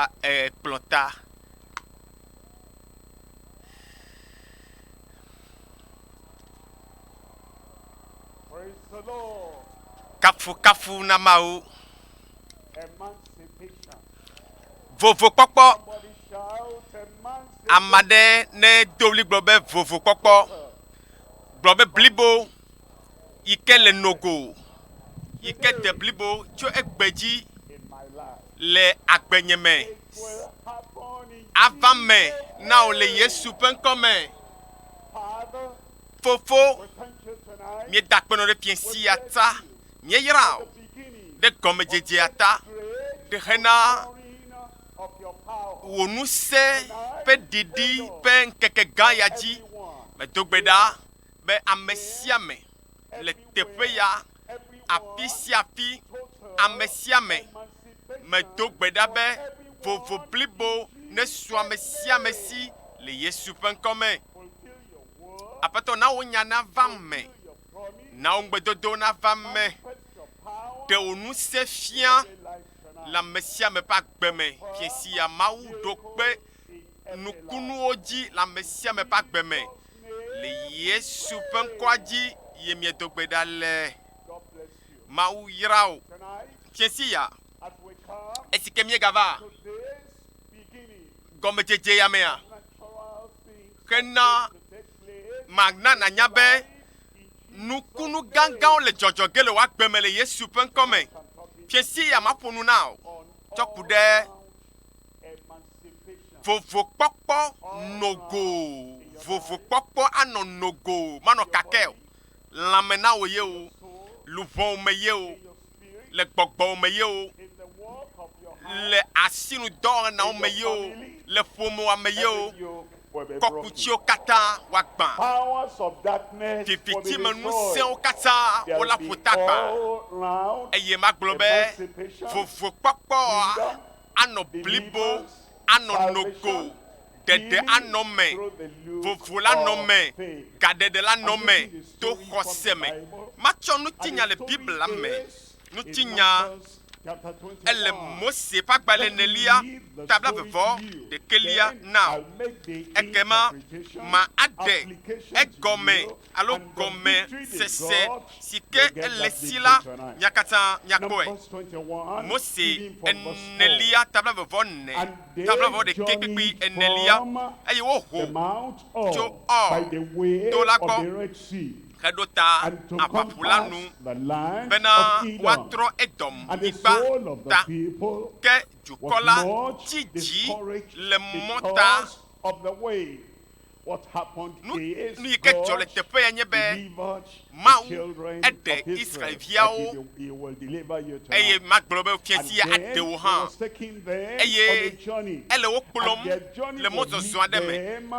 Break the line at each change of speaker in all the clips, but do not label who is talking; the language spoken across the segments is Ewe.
a e kplɔ ta.
Kafukafu
na Mawu. Vovokpɔkpɔ.
Ame aɖe ne
do ɣli gblɔ be vovokpɔkpɔ. Gblɔ be blibo yi ke le nogo yi ke de blibo tso egbe dzi.
le agbenye
me
ava me
na wò le
Yesu
ƒe ŋkɔ me.
Fofo, míeda akpenɔ ɖe fiẽ
sia ta, míeyra wò
ɖe
gɔmedzedzea ta, ɖe hena
wò ŋusẽ
ƒe ɖiɖi ƒe ŋkeke gã ya dzi. Medo gbe
ɖa
be ame sia ame le teƒe ya. afisiafi, amesiame medo
gbe ɖa be
vovo blibo nesu amesiame si le Yesu ƒe ŋkɔ me.
Aƒetɔ na wò nya
nava me,
na wò ŋugbedodo
nava me,
ɖe wò ŋusẽ
fia le
amesiame ƒe
agbe me fiesiya Mawu ɖo kpe nukunuwo dzi le ame sia ame ƒe agbe me. Le Yesu ƒe ŋkɔa dzi ye miedo gbe ɖa le.
Mawu yra wò.
Tiesi ya
esi ke míegava gɔmedzedze ya
mea,
hena mana nànya be
nukunu gãgãwo le dzɔdzɔ ge le wò agbe me le Yesu ƒe ŋkɔ me. Tiesi
ya maƒo nu
na wò tsɔ ku ɖe
Vovokpɔkpɔ
nogo, vovokpɔkpɔ anɔ nogo, manɔ kake o, lãme na wò ye o, luʋɔwo me ye o, le
gbɔgbɔwo me ye
o,
le asinudɔwɔnawo
me ye o, le ƒomewoa me ye o,
kɔkù tsiwo katã
woagbã,
vivitimenu sẽwo
katã wo la ƒu ta gbã,
eye magblɔ be vovokpɔkpɔa
anɔ blibo, anɔ nogo, ɖeɖe anɔ eme, vovo
la nɔ eme,
gaɖeɖe la
nɔ eme
to xɔse me. Matsɔ nutinya le Biblia me ŋutinya ele Mose ƒe agbalẽ nelia tabla vevɔ ɖekɛlia na o. Ekema ma aɖe egɔme alo gɔme sese si ke ele si la mia katã miakpɔe. Mose enelia tabla vevɔ ne, tabla vevɔ ɖekɛ kpekpe enelia, eye woho tso Ɔ to la gbɔ. heɖo ta aʋaƒu la nu bena woatrɔ Edom-nyigba ta. Ke dukɔ la dzi dzi le mɔ ta.
Nu yi ke
dzɔ le
teƒe
ya nye be
Mawu
eɖe
Israel-viawo eye magblɔ be fia
si ya
aɖe
wo hã
eye
ele
wo kplɔm
le mɔzɔzɔ
aɖe me.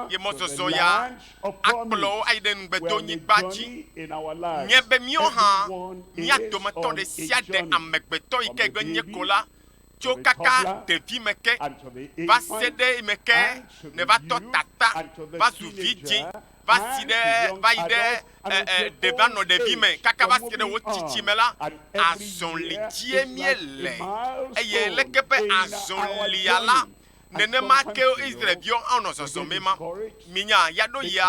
Ye mɔzɔzɔ
ya
akplɔ
wo ayi ɖe
Ŋugbetonyigba
dzi. Nye be míawo hã,
mía dometɔ
ɖe
sia
ɖe, amegbetɔ
yi
ke gbe
nye ko la, tso kaka
ɖevime
ke va se
ɖe eme
ke nèva tɔ
tata,
va
zu vidzĩ,
va
si
ɖe, va yi ɖe, ɛ,
ɛ,
ɖe
va nɔ ɖevime
kaka va
se ɖe
wò tsitsime la, azɔli
dzie
míele.
Eye leke ƒe
azɔlia
la
Nenema
ke
Israel-viwo hã wonɔ
zɔzɔm
ema. Minya, yaɖo yia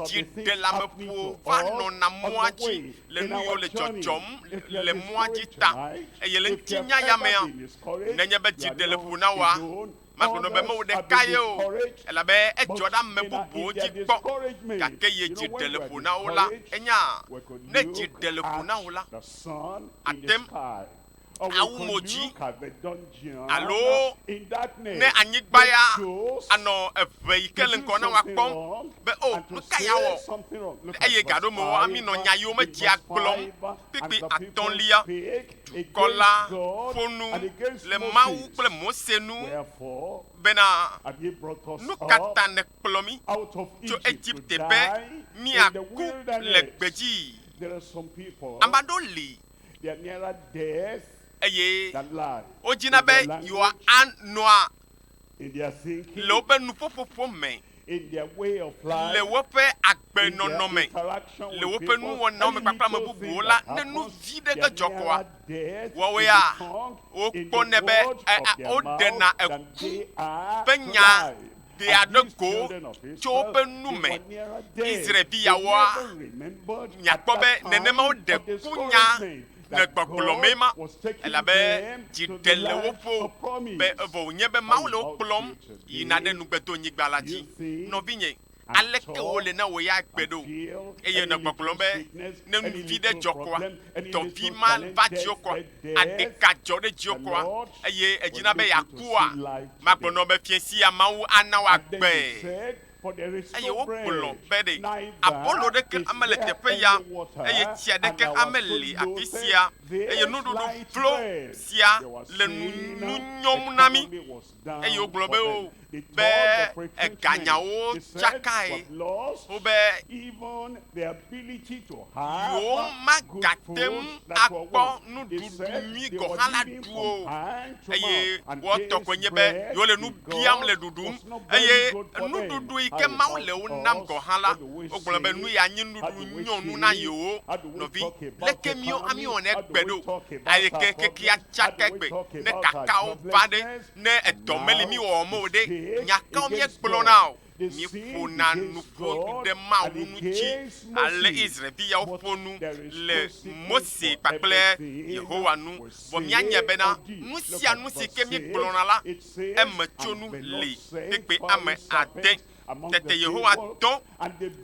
dziɖeleameƒuwo va nɔna mɔa dzi le nu yiwo le dzɔdzɔm le mɔa dzi ta. Eye le ŋutinya ya mea, nenye be dziɖeleƒu nawɔa, magblɔ be mewò ɖeka ye o, elabe edzɔ ɖe ame bubuwo dzi kpɔ. Gake ye dziɖeleƒu na wo la, ènya? Ne dzi ɖe le ƒo na wò la, àtem awu mo dzi alo ne anyigba ya anɔ eve yi ke le ŋgɔ na woakpɔm be o oh, nu ka ya wɔ eye gaɖo me wɔa mi nɔ nya yiwo medzia gblɔm kpekpe atɔlia dukɔ la ƒo nu le mawu kple mose nu bena nu ka ta nèkplɔ mi tso egipte be miaku le gbedzi ame aɖewo li eye wodzina be yewoanɔa le woƒe nuƒoƒoƒo me,
le woƒe
agbenɔnɔ me, le woƒe
nuwɔnawo
me kpakple
ame
bubuwo la,
ne
nu vi ɖe ge
dzɔ kɔa, woawoea, wokpɔnɛ be woɖena
eku ƒe
nya
ɖe aɖe
ko tso
woƒe
nu
me,
Israel-vi yawoa, miakpɔ be nenema
woɖe
kunya le gbɔgblɔ
mee ma, elabe
dzi
ɖe
le wo ƒo be
evɔ
wònye be Mawu
le wo kplɔm yina ɖe nugbedonyigba la dzi. Nɔvinye, aleke wòle na wò ya gbe ɖo? Eye wònɔ gbɔgblɔm be, Ne nuvi ɖe dzɔ koa, dɔvi ma va dziwò koa, Ade ka dzɔ ɖe dziwò kɔa, eye èdzina be yeakua? Magblɔnɔ be Fiẽ sia Mawu ana wòagbee. Eye wogblɔ be ɖe abolo ɖeke amele teƒe ya, eye tsi aɖeke ameli afisia, eye nuɖuɖu vlo sia le nu nyɔm na mí. eye wogblɔ be wo be eganyawo tsakae, wobe yewomagate ŋu akpɔ nuɖuɖu nyui gɔ̃ hã la ɖu o, eye woawo tɔ koe nye be yewole nu biam le ɖuɖum, eye nuɖuɖu yi ke Mawu le wo nam gɔ̃ hã la, wogblɔ be nu ya nyi nuɖuɖu nyɔ nu na yewo nɔvi leke míɔ amíwɔ ne gbe ɖo aye ke kekia tsa ke gbe ne kakawo va ɖe ne edɔ meli míwɔwɔ me o ɖe nya kawo míegblɔ na o míeƒo na nuƒo ɖe mawu nu tsi ale israelvi yawo ƒo nu le mose kpakple yehowa nu vɔ míanye bena nu sia nu si ke míegblɔ na la eme tso nu li kpekpe ame ade Tete Yehowa dɔ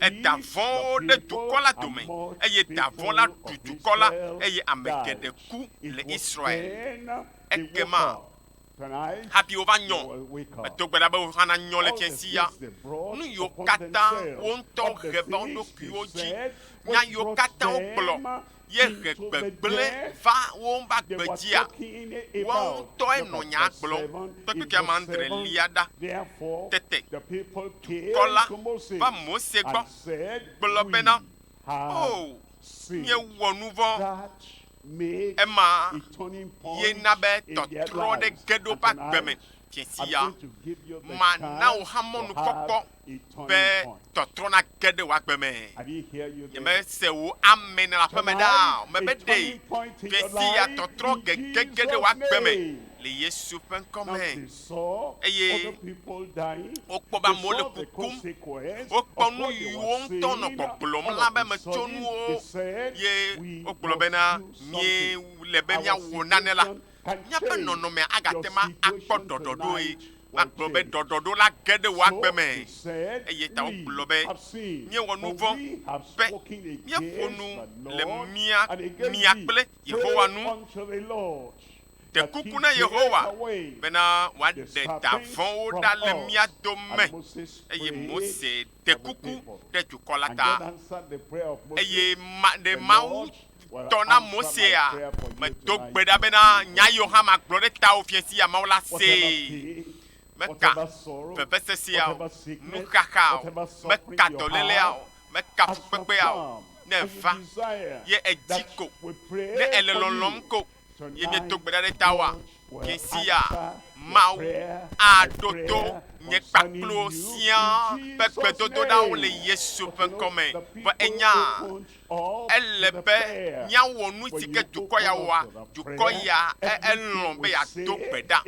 eda vɔ̃wo ɖe dukɔ la dome, eye da vɔ̃ la ɖu dukɔ la, eye ame geɖe ku le Israel. Ekema hafi wova nyɔ. Medo gbe ɖa be wohã nanyɔ le tsiẽ sia. Nu yiwo katã wo ŋutɔ he va wo ɖokuiwo dzi, nya yiwo katã wogblɔ, ye he gbegblẽ va wo ŋu va gbedzia? Woawo ŋutɔe nɔ nyaa gblɔm kpekpekea me andre lia ɖa. Tete dukɔ la va Mose gbɔ gblɔ bena, Oo, míewɔ nu vɔ̃. Ema ye na be tɔtrɔ ɖe ge ɖe woƒe agbe me. Fiẽ siaa mana wò hã mɔnukpɔkpɔ ƒe tɔtrɔ nage ɖe wò agbe me. Nyemese wò amen le aƒeme ɖaa o. Mebe ɖe ɣesiya tɔtrɔ gege ge ɖe wò agbe me le Yesu ƒe ŋkɔ me. Eye wokpɔ be amewo le kukum. Wokpɔ nu yiwo ŋutɔ nɔ gbɔgblɔm la be metso nuwo ye wogblɔ bena, míele be míawɔ nane la. Míaƒe nɔnɔmea agate ŋu akpɔ ɖɔɖɔɖoe. Woagblɔ be, Ɖɔɖɔɖo la ge ɖe wò agbe me. Eya ta wogblɔ be, Míewɔ nu vɔ̃ be míeƒo nu le mía mia kple Yehowa nu. Ɖe kuku na Yehowa bena wòaɖe da vɔ̃wo ɖa le mía dome. Eye Mose ɖe kuku ɖe dukɔ la ta, eye ma ɖe Mawu tɔ na Mosea, medo gbe ɖa bena nya yi wohã magblɔ ɖe tawò fia sia Mawu la see. Meka vevesesea o, nuxaxa o, meka dɔlélea o, meka fukpekpea o, ne èva, ye èdi ko, ne èle lɔlɔ̃m ko. ye miedo gbe ɖa ɖe tawoa? Ɣesiya Mawu aɖo to nye kpakplowo siã ƒe gbedodoɖawo le Yesu ƒe ŋkɔ me. Vɔ ènya? Ele be míawɔ nu si ke dukɔ ya wɔa. Dukɔ ya elɔ̃ be yeado gbe ɖa,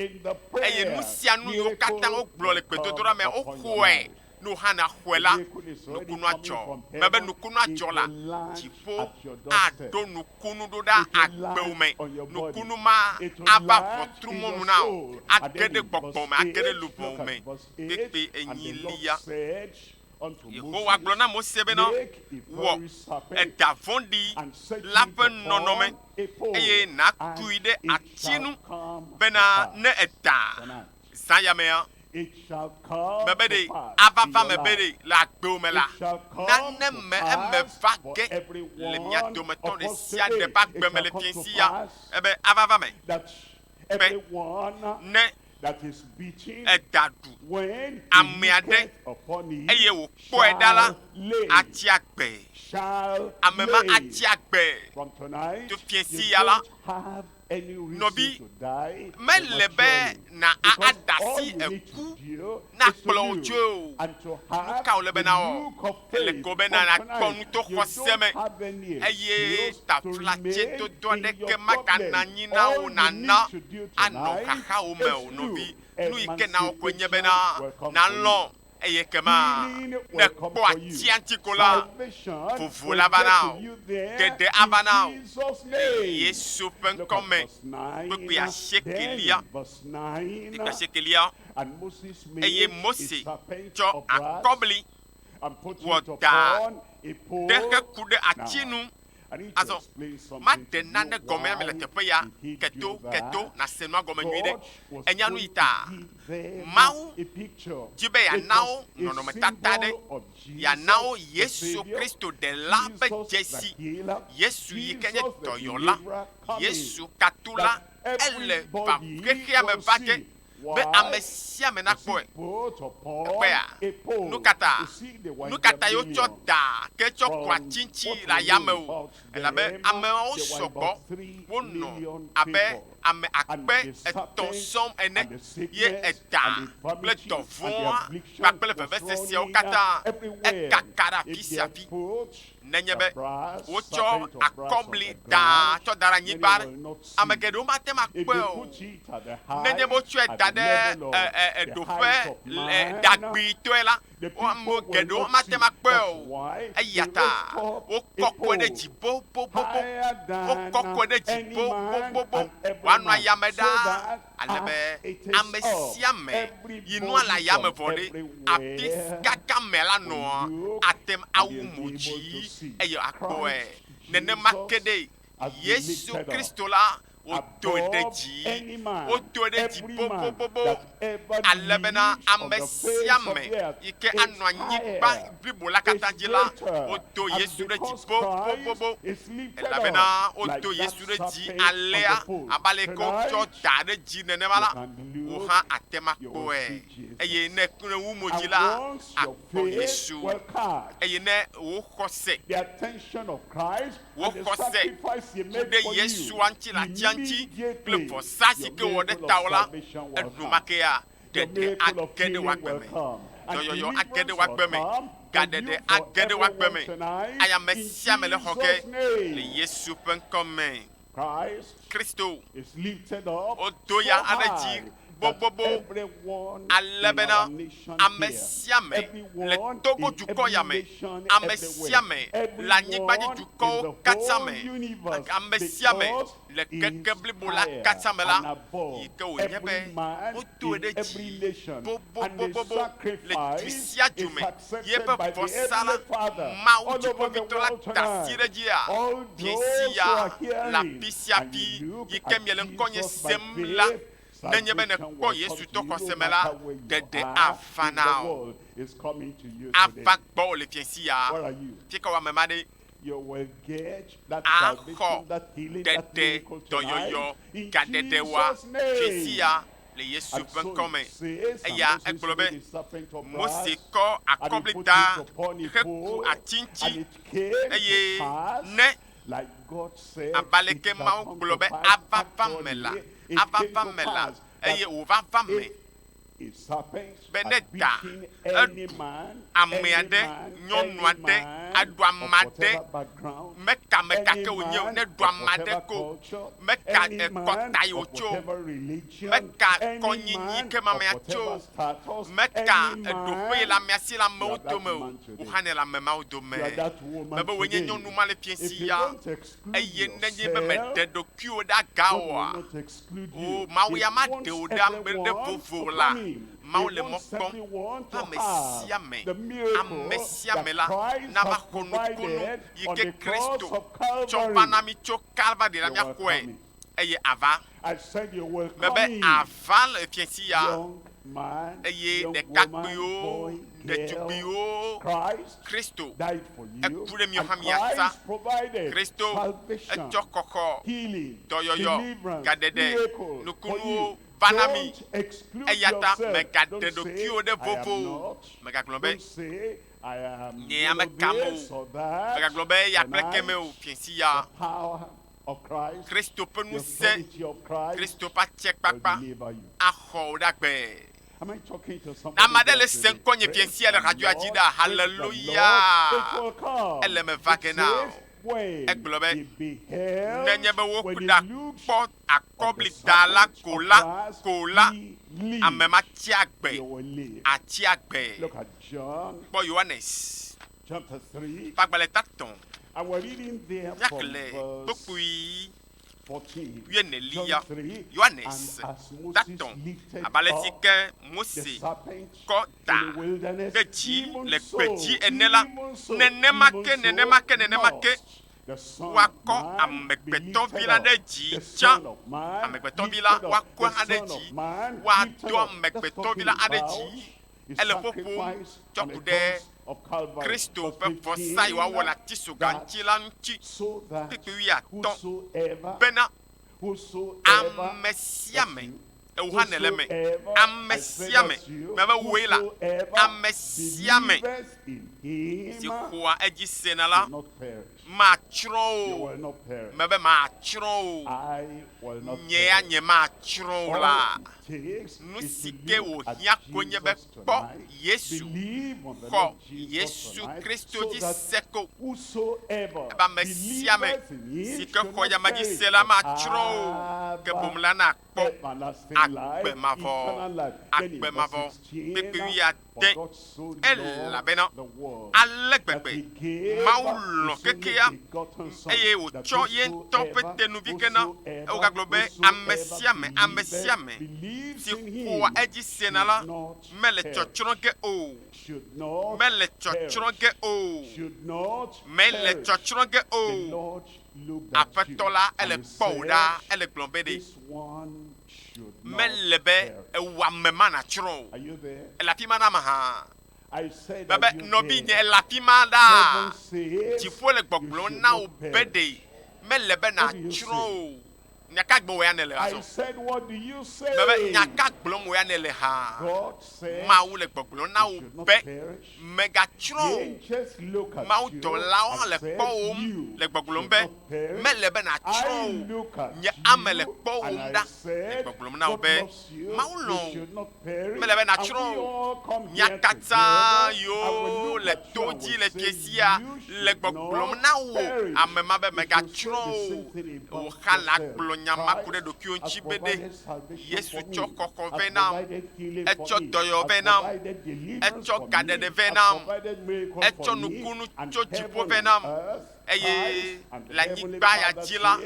eye nu sia nu yiwo katã wogblɔ le gbedodoɖa mea, woxɔe Ne woxana xɔe la, nukunua dzɔ. Mebe nukunua dzɔ la, dziƒo aɖo nukunu ɖo ɖa agbewo me. Nukunu ma ava ʋɔtru mɔ nu na wò, age ɖe gbɔgbɔ me, age ɖe luʋɔwo me kpekpe enyilia. Yehowa gblɔ na Mose bena, Wɔ eɖa vɔ̃ɖi la ƒe nɔnɔme, eye nàtui ɖe ati nu, bena ne èda Zã ya mea, mebe ɖe ava va me be ɖe le agbewo me la, nane me eme va ge le mia dometɔ ɖe sia ɖe ƒe agbe me le fiẽ si ya ebe ava va me be ne eda ɖu ame aɖe eye wòkpɔe ɖa la, atsi agbe. Ame ma atsi agbe to fiẽ si ya la.
Nɔvi, mele be
na a
adasi eku na kplɔ
wò
tsoe
o. Nu ka
wòle be na wɔ?
Ele kɔ be
na nakpɔ nu
to xɔse
me eye
taflatsedodo aɖeke magana
anyi na
wò nàna anɔ
xaxawò
me
o. Nɔvi,
nu yi
ke
nawɔ
koe nye
be na nalɔ̃
Eye ekema
ne kpɔ atiantiko la, vovo
la va na wò, ɖeɖe ava na wò
le
Yesu ƒe ŋkɔ
me.
Kpukpui asiekelia,
kpukpui
asiekelia. Eye Mose
tsɔ
akɔbli
wɔ
da ɖe heku ɖe ati
nu Azɔ,
maɖe nane gɔme
ame
le teƒe
ya keto
keto
nàse
nua gɔme
nyuiɖe. Ènya nuyi
ta?
Mawu di
be yeana wo
nɔnɔmetata
aɖe,
yeana
wo
Yesu Kristo Ɖela
ƒe
dzesi, Yesu
yi ke nye
dɔyɔla, Yesu
katula.
Ele
va
xexea me va
ge
be ame sia
ame nakpɔe. Ekpɔea?
Nukata? Nukatae
wotsɔ daa
ke tsɔ
kua
tsintsi le ayame o?
Elabe
ameawo
sɔgbɔ,
wonɔ abe
ame
akpe etɔ̃ sɔŋ
ene,
ye edaa kple
dɔvɔ̃a kpakple veveseseawo
katã ekaka
ɖe afisiafi.
Nenye
be
wotsɔ akɔbli
daa
tsɔ da
ɖe anyigba
ɖe,
ame
geɖewo
mate ŋu akpɔe
o.
Nenye be wotsɔe da ɖe ɖoƒe ɖagbitɔe la,
ame geɖewo mate
ŋu akpɔe
o. Eya
ta
wokɔkɔe
ɖe dzi
bobobobo.
Wokɔkɔe ɖe
dzi bobobobo
wòanɔ
ayame
ɖaa.
ale
be
ame
sia ame
yi
nɔa le
ayame
vɔ
ɖe, afi si kaka amea
la nɔa,
ate
ŋu
awu
mo
dzi eye
akpɔe.
Nenema
ke
ɖe Yesu
Kristo la,
wotɔe ɖe dzi, wotɔe
ɖe dzi
bobobobo ale
bena
ame sia
ame
yi ke
anɔ anyigba
blibo la katã
dzi la,
wodo Yesu
ɖe dzi bobobobo,
elabena
wodo
Yesu ɖe dzi
alea abe aleke
wotsɔ da ɖe dzi
nenema
la, wò hã
àte ŋu
akpɔe.
Eye
ne
ekle wu
mo dzi la, àkpɔ
Yesu.
Eye
ne wò
xɔse,
wò xɔse
ku ɖe
Yesua ŋuti
le
atia
ŋuti kple vɔsa si ke
wòwɔ ɖe
tawò la, enumake
ya Ɖeɖe age ɖe
wò agbe
me.
Dɔyɔyɔ
age ɖe wò agbe
me. Gaɖeɖe
age
ɖe wò
agbe me.
Ayi ame
sia ame le
xɔ ge le Yesu ƒe ŋkɔ
me. Kristo, wodo ya hã ɖe
dzi gbogbogbo
ale bena ame sia ame le
Togo dukɔ
ya me,
ame
sia ame
le anyigbadzidukɔwo katã
me,
ame
sia ame
Le keke
blibo
la katã
me la,
yi ke wònye
be
wodoe
ɖe dzi
bobobobobo le du sia du me ye eƒe vɔsa
la,
Mawu
Dziƒoʋĩtɔ
la
da asi ɖe
edzi ya,
miesi ya le afi sia
afi yi ke
miele
ŋkɔnye
sem
la, nenye be
nèkpɔ
Yesu to xɔse
me la,
ɖeɖe
ava
na wò.
Ava gbɔwò le fiẽsi
ya. Fi ka wò
amema ɖe? axɔ tete
dɔyɔyɔ
gaɖeɖewoa
fifia le
Yesu
ƒe ŋkɔ me.
Eya egblɔ be,
Mose
kɔ
akɔblida
heku ati ŋuti,
eye
ne, abe aleke Mawu
gblɔ be
ava
va
me la,
ava
va
me
la, eye
wòva
va me. be ne da
eɖu
ame
aɖe,
nyɔnu
aɖe aɖu
ame aɖe, meta meta ke
wònye o, ne ɖu ame aɖe ko, meta kɔta yi
wòtso, meta
kɔnyinyi
ke me amea
tso, meta ɖoƒe yi le
amea si
le amewo dome o,
wò
hã
nèle
ame
mawo dome.
Mebe
wòe nye nyɔnu
ma
le
fiẽ si
ya.
Eye
nenye be
mèɖe ɖokuiwò ɖe aga oa, o,
Mawu ya
maɖe
wò
ɖe
ame
ɖe vovo o la,
Mawu
le
mɔ kpɔm
be
ame sia ame,
ame
sia ame la
nava xɔ
nukunu
yi ke
Kristo tsɔ
va na
mí tso
Kalvari la, míaxɔe.
eye
àva.
Mebe àva le fiẽsia, eye ɖekakpuiwo, ɖetugbuiwo,
Kristo, eku
ɖe mía xa míasa. Kristo,
etsɔ xɔxɔ, dɔyɔyɔ, gaɖeɖe, nukunuwo
va
na mí. Eyata
mègaɖe ɖokuiwò
ɖe
vovo
o.
Mègagblɔ
be,
Nye ame kam
o. Mègagblɔ be, Eya kple
kemɛ
o. Fiẽsia.
Kristo ƒe ŋusẽ,
Kristo
ƒe atsiekpakpa
axɔ
wò ɖe agbe. Ne ame aɖe le se ŋkɔ nye
fiasia le
radioa
dzi
ɖa,
haleluya,
ele me va ge na
wò. Egblɔ
be, Nenye be woku ɖa
kpɔ
akɔblida la ko
la, ko la, ame
ma tsi agbe,
atsi
agbe. Kpɔ Yohanes. Kpagbalẽ tatɔ
nyakle
kpokpui wuieneliya Yohanes
tatɔ
abe
alesi ke Mose kɔ
da ɖe dzi le
gbedzi
ene
la, nenema
ke, nenema
ke, nenema
ke woakɔ amegbetɔvi la ɖe dzi
tsã. Amegbetɔvi
la woakɔ
aɖe dzi,
woado
amegbetɔvi
la aɖe dzi.
ele ƒoƒom tsɔ ku ɖe
Kristo ƒe vɔsa
yi
wòawɔ le
ati
so
ga ŋuti la ŋuti kpukpui
wuiatɔ̃
bena,
Amesiame,
ewuhã nèle
eme,
amesiame,
mebe
wòe la,
amesiame si xoa edzi
sena la,
Matsrɔ̃ wò
mebe
matsrɔ̃
wò,
nye ya nyematsrɔ̃ wò
la.
Nusike
wòhiã
koe
nye
be kpɔ Yesu,
xɔ
Yesu Kristo
dzi
se
ko, ebe
amesiame
sike xɔ
yame dzi se
la
matsrɔ̃ o,
ke boŋ la nakpɔ agbe
mavɔ,
agbe
mavɔ kpekpewui. te, elabena
ale
gbegbe
Mawu
lɔ̃
kekea, eye
wòtsɔ ye
ŋutɔ
ƒe
te nu vi ke na. Egagblɔ be, Ame sia ame, ame sia ame si
xɔa edzi sena la,
mele
tsɔtsrɔ̃ ge o, mele tsɔtsrɔ̃
ge o,
mele tsɔtsrɔ̃
ge o.
Aƒetɔ la, ele kpɔ wò
ɖaa,
ele gblɔ
be ɖe.
Mele be
ewu ame
ma
natsrɔ̃ o. Èle afi ma
na ame hã? Bebe, nɔvinye,
èle afi
ma
ɖaa? Dziƒo le
gbɔgblɔm
na wò
be
ɖe
mele
be nàtsrɔ̃ o.
Nya
ka gblɔm wò ya nèle azɔ?
Bebe, nya ka gblɔm
wò ya nèle hã?
Mawu le gbɔgblɔm na
wò be Mègatsrɔ̃ o.
Mawudɔlawo hã le
kpɔwòm le
gbɔgblɔm
be, Mele
be nàtsrɔ̃
o. Nye
ame le kpɔwòm
ɖa
le
gbɔgblɔm na wò be, Mawu lɔ̃
wò.
Mele be
nàtsrɔ̃ o.
Nya katã
yiwo le
to
dzi le fiesia le
gbɔgblɔm na
wò, ame ma
be,
Mègatsrɔ̃
o.
Wò xalã gblɔ nya
ma ku ɖe
ɖokuiwò
ŋuti be, Ɖe Yesu
tsɔ xɔxɔ
vɛ
nam,
etsɔ
dɔyɔ vɛ
nam, etsɔ
gaɖeɖe vɛ
nam, etsɔ
nukunu
tso
dziƒo
vɛ
nam,
eye le
anyigba ya dzi la,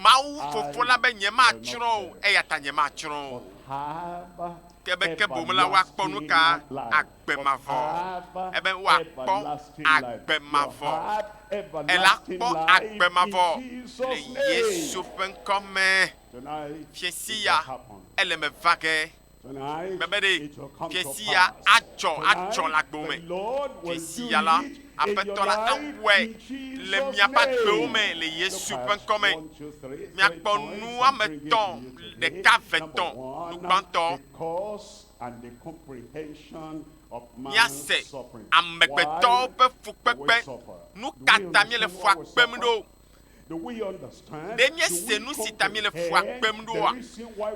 Mawu Fofo la
be
nyematsrɔ̃
o, eya
ta nyematsrɔ̃ o. Ke be ke boŋ
la, woakpɔ nu ka? agbe mavɔ, ebe
woakpɔ
agbe
mavɔ, ela kpɔ
agbe
mavɔ
le
Yesu
ƒe ŋkɔ me. Fiẽsi
ya ele me va ge.
Mebe ɖe fiẽsi ya
adzɔ
atsɔ
le agbewo
me. Fiẽsi
ya la,
Aƒetɔ la awɔe le
miaƒe agbewo
me le Yesu ƒe ŋkɔ me. Miakpɔ
nu woame
etɔ̃,
ɖeka,
ve,
tɔ̃.
Nu
gbãtɔ, míase
amegbetɔwo
ƒe
fukpekpe.
Nu
ka
ta míele
fua kpem ɖo?
Ɖe míese nu si
ta
míele fua
kpem ɖoa?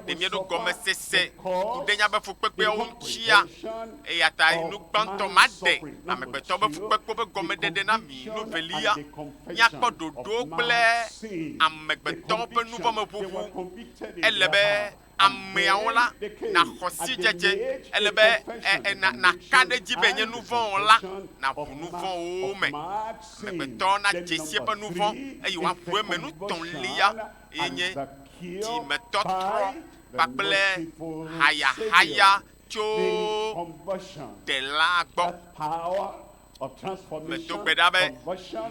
Ɖe
míeɖo
gɔmesese
ku ɖe míaƒe
fukpekpeawo
ŋutia? Eya ta
nu
gbãtɔ ma
ɖe amegbetɔ
ƒe
fukpekpewo ƒe
gɔmeɖeɖe na mi.
Nu
velia, míakpɔ
ɖoɖo
kple amegbetɔwo
ƒe
nuvɔ̃meʋuʋu. Ele
be
ameawo
la,
nàxɔ
sidzedze.
Ele
be
nàka
ɖe edzi
be nye nuvɔ̃wɔla
naʋu nuvɔ̃wòwo
me. Amegbetɔ
nadze si eƒe
nuvɔ̃, eye
wòaʋu
eme. Nu tɔ̃lia
ye nye dzimetɔtrɔ
kpakple hayahaya tso
Ɖelaa gbɔ. medo gbe ɖa be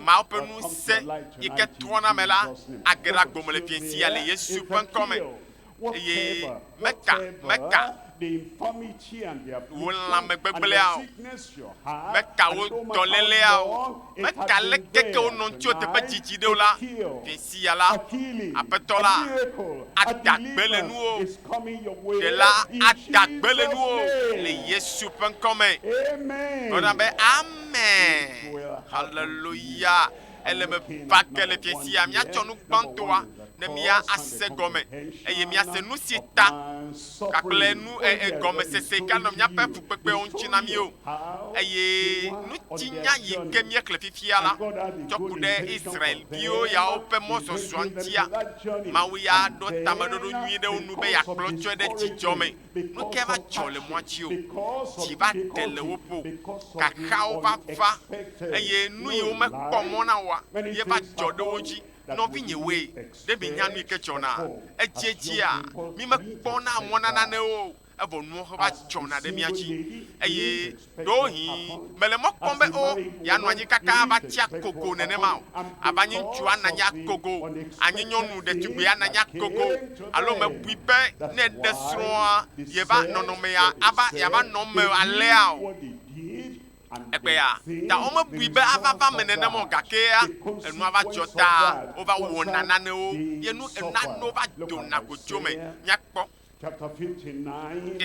Mawu ƒe
ŋusẽ
yi
ke
trɔna
ame la
age ɖe agbo me
le vie
sia le Yesu
ƒe
ŋkɔ me. Eye meka,
meka wò lãme gbegblẽa o, meka wò
dɔléleawo, meka
aleke ke
wonɔ
ŋutsuwo
teƒe dzidzi
ɖe
o la, Ɣeasia
la,
Aƒetɔ
la
ada
gbe le nuwò, Ɖela ada
gbe le
nuwò
le Yesu
ƒe
ŋkɔ
me.
Gblɔ na be,
Amen. Haleluya.
Ele me va ke le fiẽ sia. Míatsɔ nu gbãtɔa ne mía ase gɔme eye míase nusi ta gakple nu ee gɔmesese ganɔ míaƒe fukpekpewo ŋuti na mí o, eye ŋutinya yi ke míexlẽ fifia la tsɔ ku ɖe Israel-viwo yawo ƒe mɔzɔzɔa ŋutia. Mawu ya ɖo tameɖoɖo nyui ɖe wo nu be yeakplɔ tsɔe ɖe dzidzɔ me. Nu kae va dzɔ le mɔa dzi o? Dzi va ɖe le wo ƒo, xaxawo va va, eye nu yi womekpɔ mɔ na oa ye va dzɔ ɖe wo dzi. Nɔvinyewoe, ɖe mienya nu yi ke dzɔna edziedzia? Mímekpɔna mɔ na nanee o, evɔ nuwo xɔ va dzɔna ɖe mía dzi. Eye ɖewohĩ mèle mɔ kpɔm be, O, yeanɔ anyi kaka ava tsi agogo nenema o. Ava nyi ŋutsu ana anyi agogo, anyi nyɔnu ɖetugbui ana anyi agogo, alo mebui be ne eɖe srɔ̃a, yeva nɔnɔmea ava, yeava nɔ eme alea o. Egbea, ta womebui be ava va eme nenem o, gakea enua va dzɔ taa wova wɔna nanewo ye nu nanewo va dona godzo me. Míakpɔ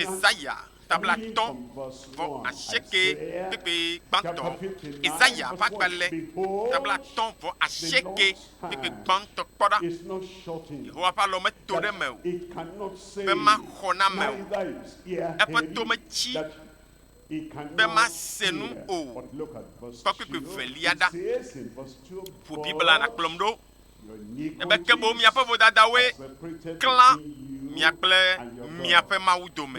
Esaya tablatɔ vɔ asieke kpekpe gbãtɔ. Esaya ƒe agbalẽ tablatɔ vɔ asieke kpekpe gbãtɔ kpɔ ɖa. Yehowa ƒe alɔ meto ɖe eme o be maxɔ name o. Eƒe to metsi. be mase nu o. Kpɔ kpukpui velia ɖa. Ƒo Biblia la kplɔm ɖo. Ebe ke boŋ miaƒe vodadawoe klã mia kple miaƒe Mawu dome.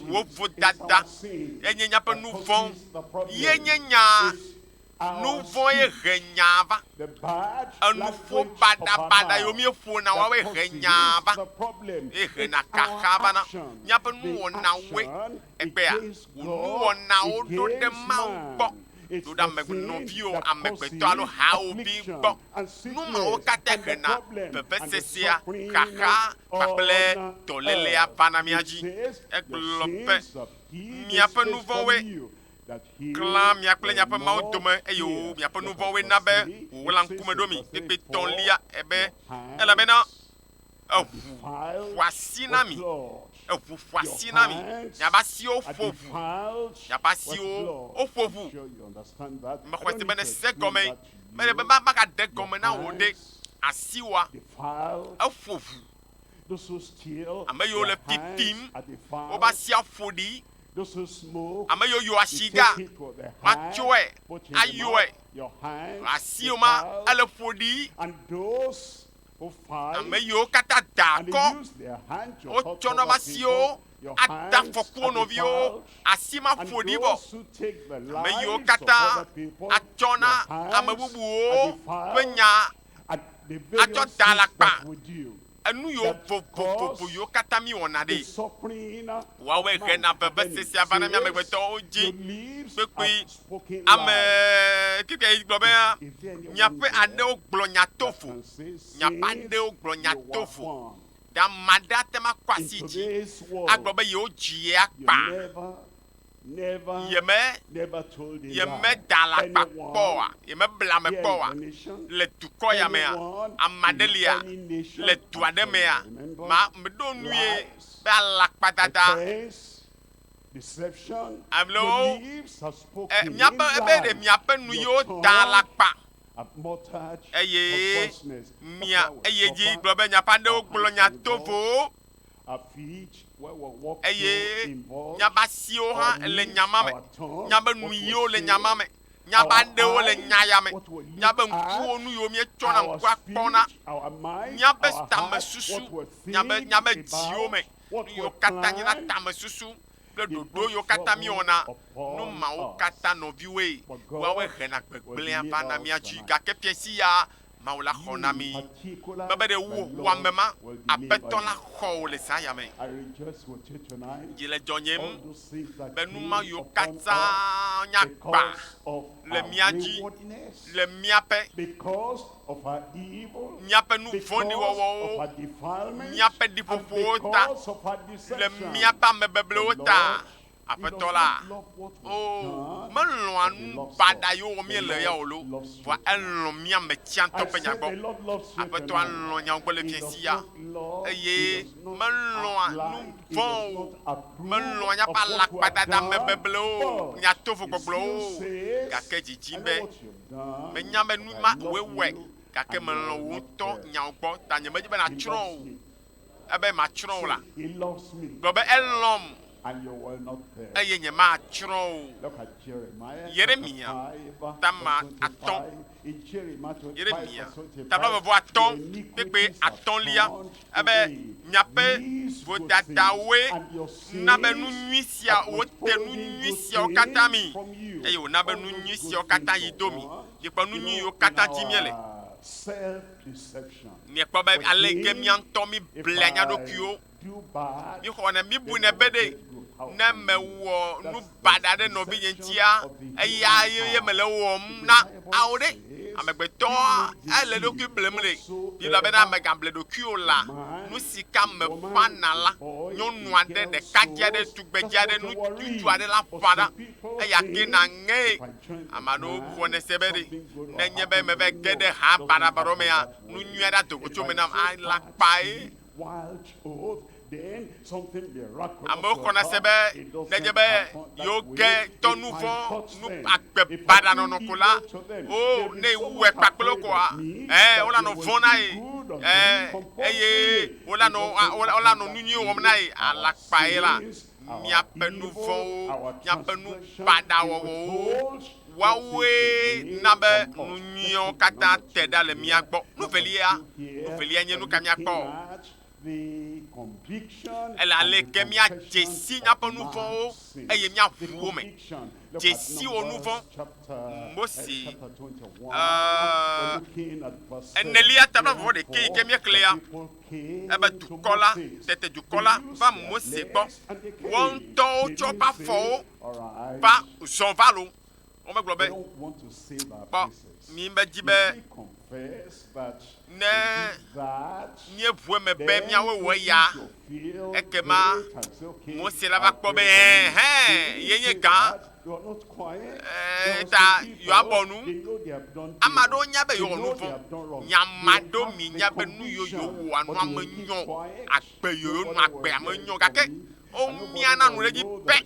Wò vodada enye miaƒe nu vɔ̃ ye nye nya Nu vɔ̃e he nyaa va. Enuƒo baɖabaɖa yiwo míeƒona woawoe he nyaa va, eye hena kaxa vana. Míaƒe nuwɔnawoe kpea wò nuwɔnawo ɖo ɖe Mawu gbɔ, ɖo ɖe ame nɔviwò amegbetɔ alo hawòvi gbɔ. Nu mawo katã hena vevesesea, xaxa kpakple dɔlélea vana mía dzi. Egblɔ be, Miaƒe nu vɔ̃woe Klã mia kple miaƒe Mawu dome, eye wo miaƒe nu vɔ̃woe na be wòwlã ŋkume ɖo mi kpekpetɔlia ebe, elabena eʋu ƒo asi na mi, eʋu ƒo asi na mi, miaƒe asiwo ƒo ʋu, miaƒe asiwo woƒo ʋu. Mexɔse be nèse egɔmee. Mele be magade gɔme na wò ɖe, asiwoa, eƒo ʋu. Ame yiwo le pipim, woƒe asi aƒo ɖi. Ame yiwo yɔ asi ga, woatsɔe ayɔe. Asiwo ma, ele ƒo ɖi. Ame yiwo katã da akɔ, wotsɔ na woƒe asiwo ade afɔku wo nɔviwo. Asi ma ƒo ɖi vɔ. Ame yiwo katã atsɔ na ame bubuwo ƒe nya atsɔ da alakpa enu yiwo vovovo yiwo katã mi wɔna ɖi. Woawɔe ɣe na vevese sia va na mi amegbetɔwo dzi kpekpe. Ame keke yi gblɔ be miaƒe aɖewo gblɔ nya tovo, miaƒe aɖewo gblɔ nya tovo. Ɖe ame aɖe ate ma kɔ asi dzi agblɔ be yewo dzi ye akpa. yeme yemeda alakpa kpɔ oa? Yemebla ame kpɔ oa? Le dukɔ ya mea, ame aɖe lia, le du aɖe mea, ma meɖo nue be alakpadada alo e, míaƒe ebe ɖe miaƒe nu yewo da alakpa eye mia eye dzi gblɔ be miaƒe aɖewo gblɔ nya tovowo. Eye nya ƒe asiwo hã le nya ma me. Nya ƒe nuyiwo le nya ma me. Nya ƒe aɖewo le nya ya me. Nya ƒe ŋkuwo nu yiwo míetsɔ na ŋkua kpɔna. Nya ƒe tamesusu, nya ƒe, nya ƒe dziwo me nu yiwo katã nye na tamesusu kple ɖoɖo yiwo katã míewɔna. Nu mawo katã, nɔviwoe, woawoe hena gbegblẽa vana mía dzi. Gake fiasi ya Mawu la xɔ na mí be be ɖe wò wɔame ma Aƒetɔ la xɔ wò le zã ya me. Dzi le dzɔ nyem be nu ma yiwo katã nya gbã le mía dzi le míaƒe, míaƒe nu vɔ̃ɖi wɔwɔwo, míaƒe ɖiƒoƒowo ta, le míaƒe amebeblewo ta, Aƒetɔ la, Oo, melɔ̃a nu baɖa yewo wɔm míele ya o loo, vɔa elɔ̃ mía ame tsiãtɔ ƒe nya gbɔ. Aƒetɔa lɔ̃ nyawo gbɔ le fiẽ sia, eye melɔ̃a nu vɔ̃ o. Melɔ̃a míaƒe alakpadada me beblewo, mía tovo gbɔgblɔwo o, gake dzidzim be menya be nu ma wòe wɔe, gake melɔ̃ wò ŋutɔ nyawo gbɔ, ta nyemedi be nàtsrɔ̃ o. ebe matsrɔ̃ wò la, gblɔ be, Elɔ̃m, eye nyematsrɔ̃ wò o. Yeremiya, tama atɔ̃, Yeremiya, tablaʋeʋɔatɔ̃, kpekpe atɔ̃lia, ebe miaƒe vodadawoe na be nu nyui sia, wote nu nyui siawo katã mi, eye wòna be nu nyui siawo katã yi do mi. Mikpɔ nu nyui yiwo katã dim míele. Miekpɔ be ale yi ke mía ŋutɔ miblea mía ɖokuiwo, mixɔna mibunɛ be ɖe ne mewɔ nu baɖa ɖe nɔvinye ŋutia, eya ye mele wɔm na ao ɖe. Amegbetɔ ele ɖokui blem ɖe. Biblia bena megable ɖokuiwo la, nu si ka meƒãna la, nyɔnu aɖe, ɖekadze aɖe, tugbedze aɖe, ŋutsu aɖe la ƒã ɖa. Eya ke na ŋee ame aɖewo buvɔ ne se be ɖe nenye be meva ge ɖe ha baɖabaɖawo mea, nu nyui aɖe ado go tso me nam alakpae. Amewo xɔna se be nenye be yewoge tɔ nu vɔ̃, nu agbe baɖa nɔnɔ ko la, o, ne wɔe kpakple wo koa, ẽ, wolanɔ vɔ̃ na ye, ẽ, eye wolanɔ, wolanɔ nu nyui wɔm na ye alakpae la. miaƒe nu vɔ̃wo, miaƒe nu baɖa wɔwɔwo, woawoe na be nu nyuiawo katã te ɖa le mía gbɔ. Nu velia, nu velia nye nu ka míakpɔ? Ele aleke míadze si míaƒe nu vɔ̃wo eye míaʋu wo me. Dze si wò nu vɔ̃. Mose, aa, enelia tablablaʋɔʋɔ ɖekɛ yi ke míexlẽa, Ebe dukɔ la, tete dukɔ la va Mose gbɔ. Woaŋtɔwo tsɔ woƒe afɔwo va zɔn va lo. Womegblɔ be, kpɔ mi medzi be ne míeʋu eme be míawoe wɔ eya, ekema Mose la va kpɔ be, ɛhɛn, ye nye gã. Eta Yoabɔ nu. Ame aɖewo nya be yewɔ nu vɔ̃. Nya ame aɖewo mi nya be nu yiwo yewɔa nu ame nyɔ. Agbe yiwo yewonɔ agbe ame nyɔ. Gake womia na nu ɖe edzi pɛ.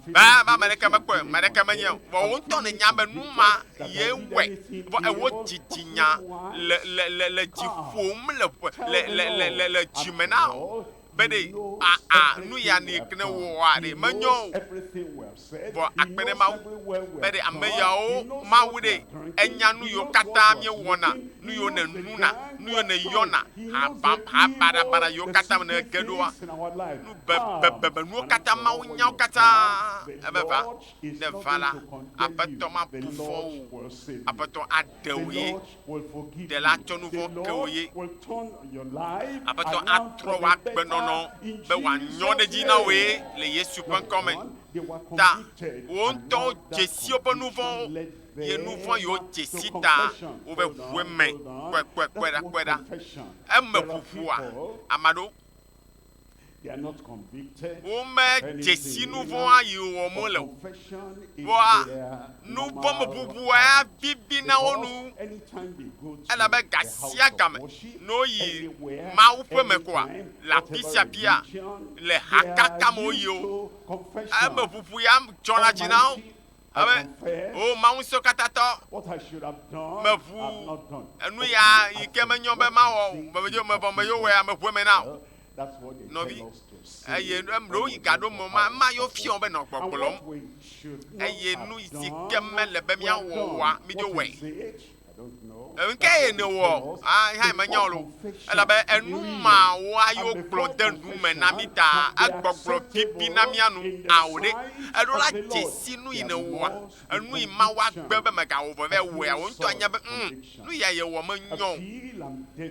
Be be ame ɖeke mekpɔe, ame ɖeke menyae o. Vɔ wò ŋutɔ nènya be nu ma ye wɔe. Vɔ ewɔ dzidzinya le le le le dzi ƒom le le le le le dzime na wò. be ɖe aa nu ya ni kne woɔa ɖe menyɔ o. Vɔ akpe ɖe Mawu be ɖe ame yawo Mawu ɖe enya nu yiwo katã mie wɔna, nu yiwo ne nuna, nu yiwo ne yɔna, ha ba, ha baɖa baɖa yiwo katã me ne ge ɖoa, nu be, be, be, be nuwo katã Mawu nyawo katã ebe va, ne va la, Aƒetɔ ma bu fɔ o, Aƒetɔ a ke wò ye, Ɖela tsɔ nu vɔ̃ ke wò ye. Aƒetɔ atrɔ wò agbenɔnɔ be wòanyɔ ɖe edzi na wòe le Yesu ƒe ŋkɔ me. Ta wò ŋutɔ dze si woƒe nu vɔ̃wo, ye nu vɔ̃ yiwo dze si ta wove ʋu eme. Kpɔe, kpɔe, kpɔe ɖa, kpɔe ɖa. Eme ʋuʋua ame aɖewo. Womedze si nu vɔ̃a yi wòwɔ mo le o. Vɔa nuvɔ̃meʋuʋu abibi na wo nu, elabe ga sia ga me ne woyi Mawu ƒe me koa, le afi sia afia, le hakaka me woyi o, emeʋuʋu ya dzɔna dzi na wo. Abe o Mawu Ŋusẽkatãtɔ, meʋu enu ya yi ke menyɔ be mawɔ o, medzo mevɔ me yewo wɔe, meʋu eme na o. Nɔvi, eye ɖewo yi gaɖo me ma, ema yewo fiɔ be nɔ gbɔgblɔm. Eye nu si ke mele be míawɔ oa, midzo wɔe. Ŋkɛ ye nèwɔ hã menya o lo. Elabe enu mawoa yo gblɔ de nu me na mí ta egbɔgblɔ bibi na mía nu ao ɖe. Eɖo la dzesi nu yi nèwɔa, enu yi Mawu agbe be mègawɔ vɔ vɛ o ya, wò ŋutɔ anya be, ŋ, nu ya yewɔ menyɔ o.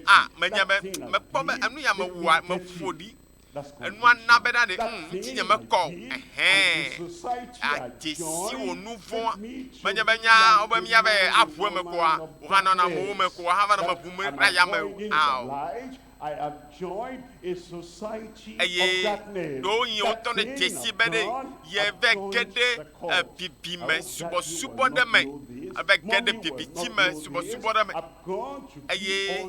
A, menye be, mekpɔ be enu ya mewɔa, meƒo ɖi Enua na be na ɖe ŋ, ŋutinye mekɔ o. Ɛhɛ. Adze si wò nu vɔ̃a. Menye be nya wo be mía be aʋu eme koa, wò hã nɔna amewo me ko hafa nɔ meʋum ɖe aya me
o ao. Eye
ɖewohĩ wò
ŋutɔ ne
dze si be ɖe ye vɛ ge ɖe ebibime subɔsubɔ
ɖe me.
Eve ge
ɖe bibitsi
me
subɔsubɔ
ɖe
me.
eye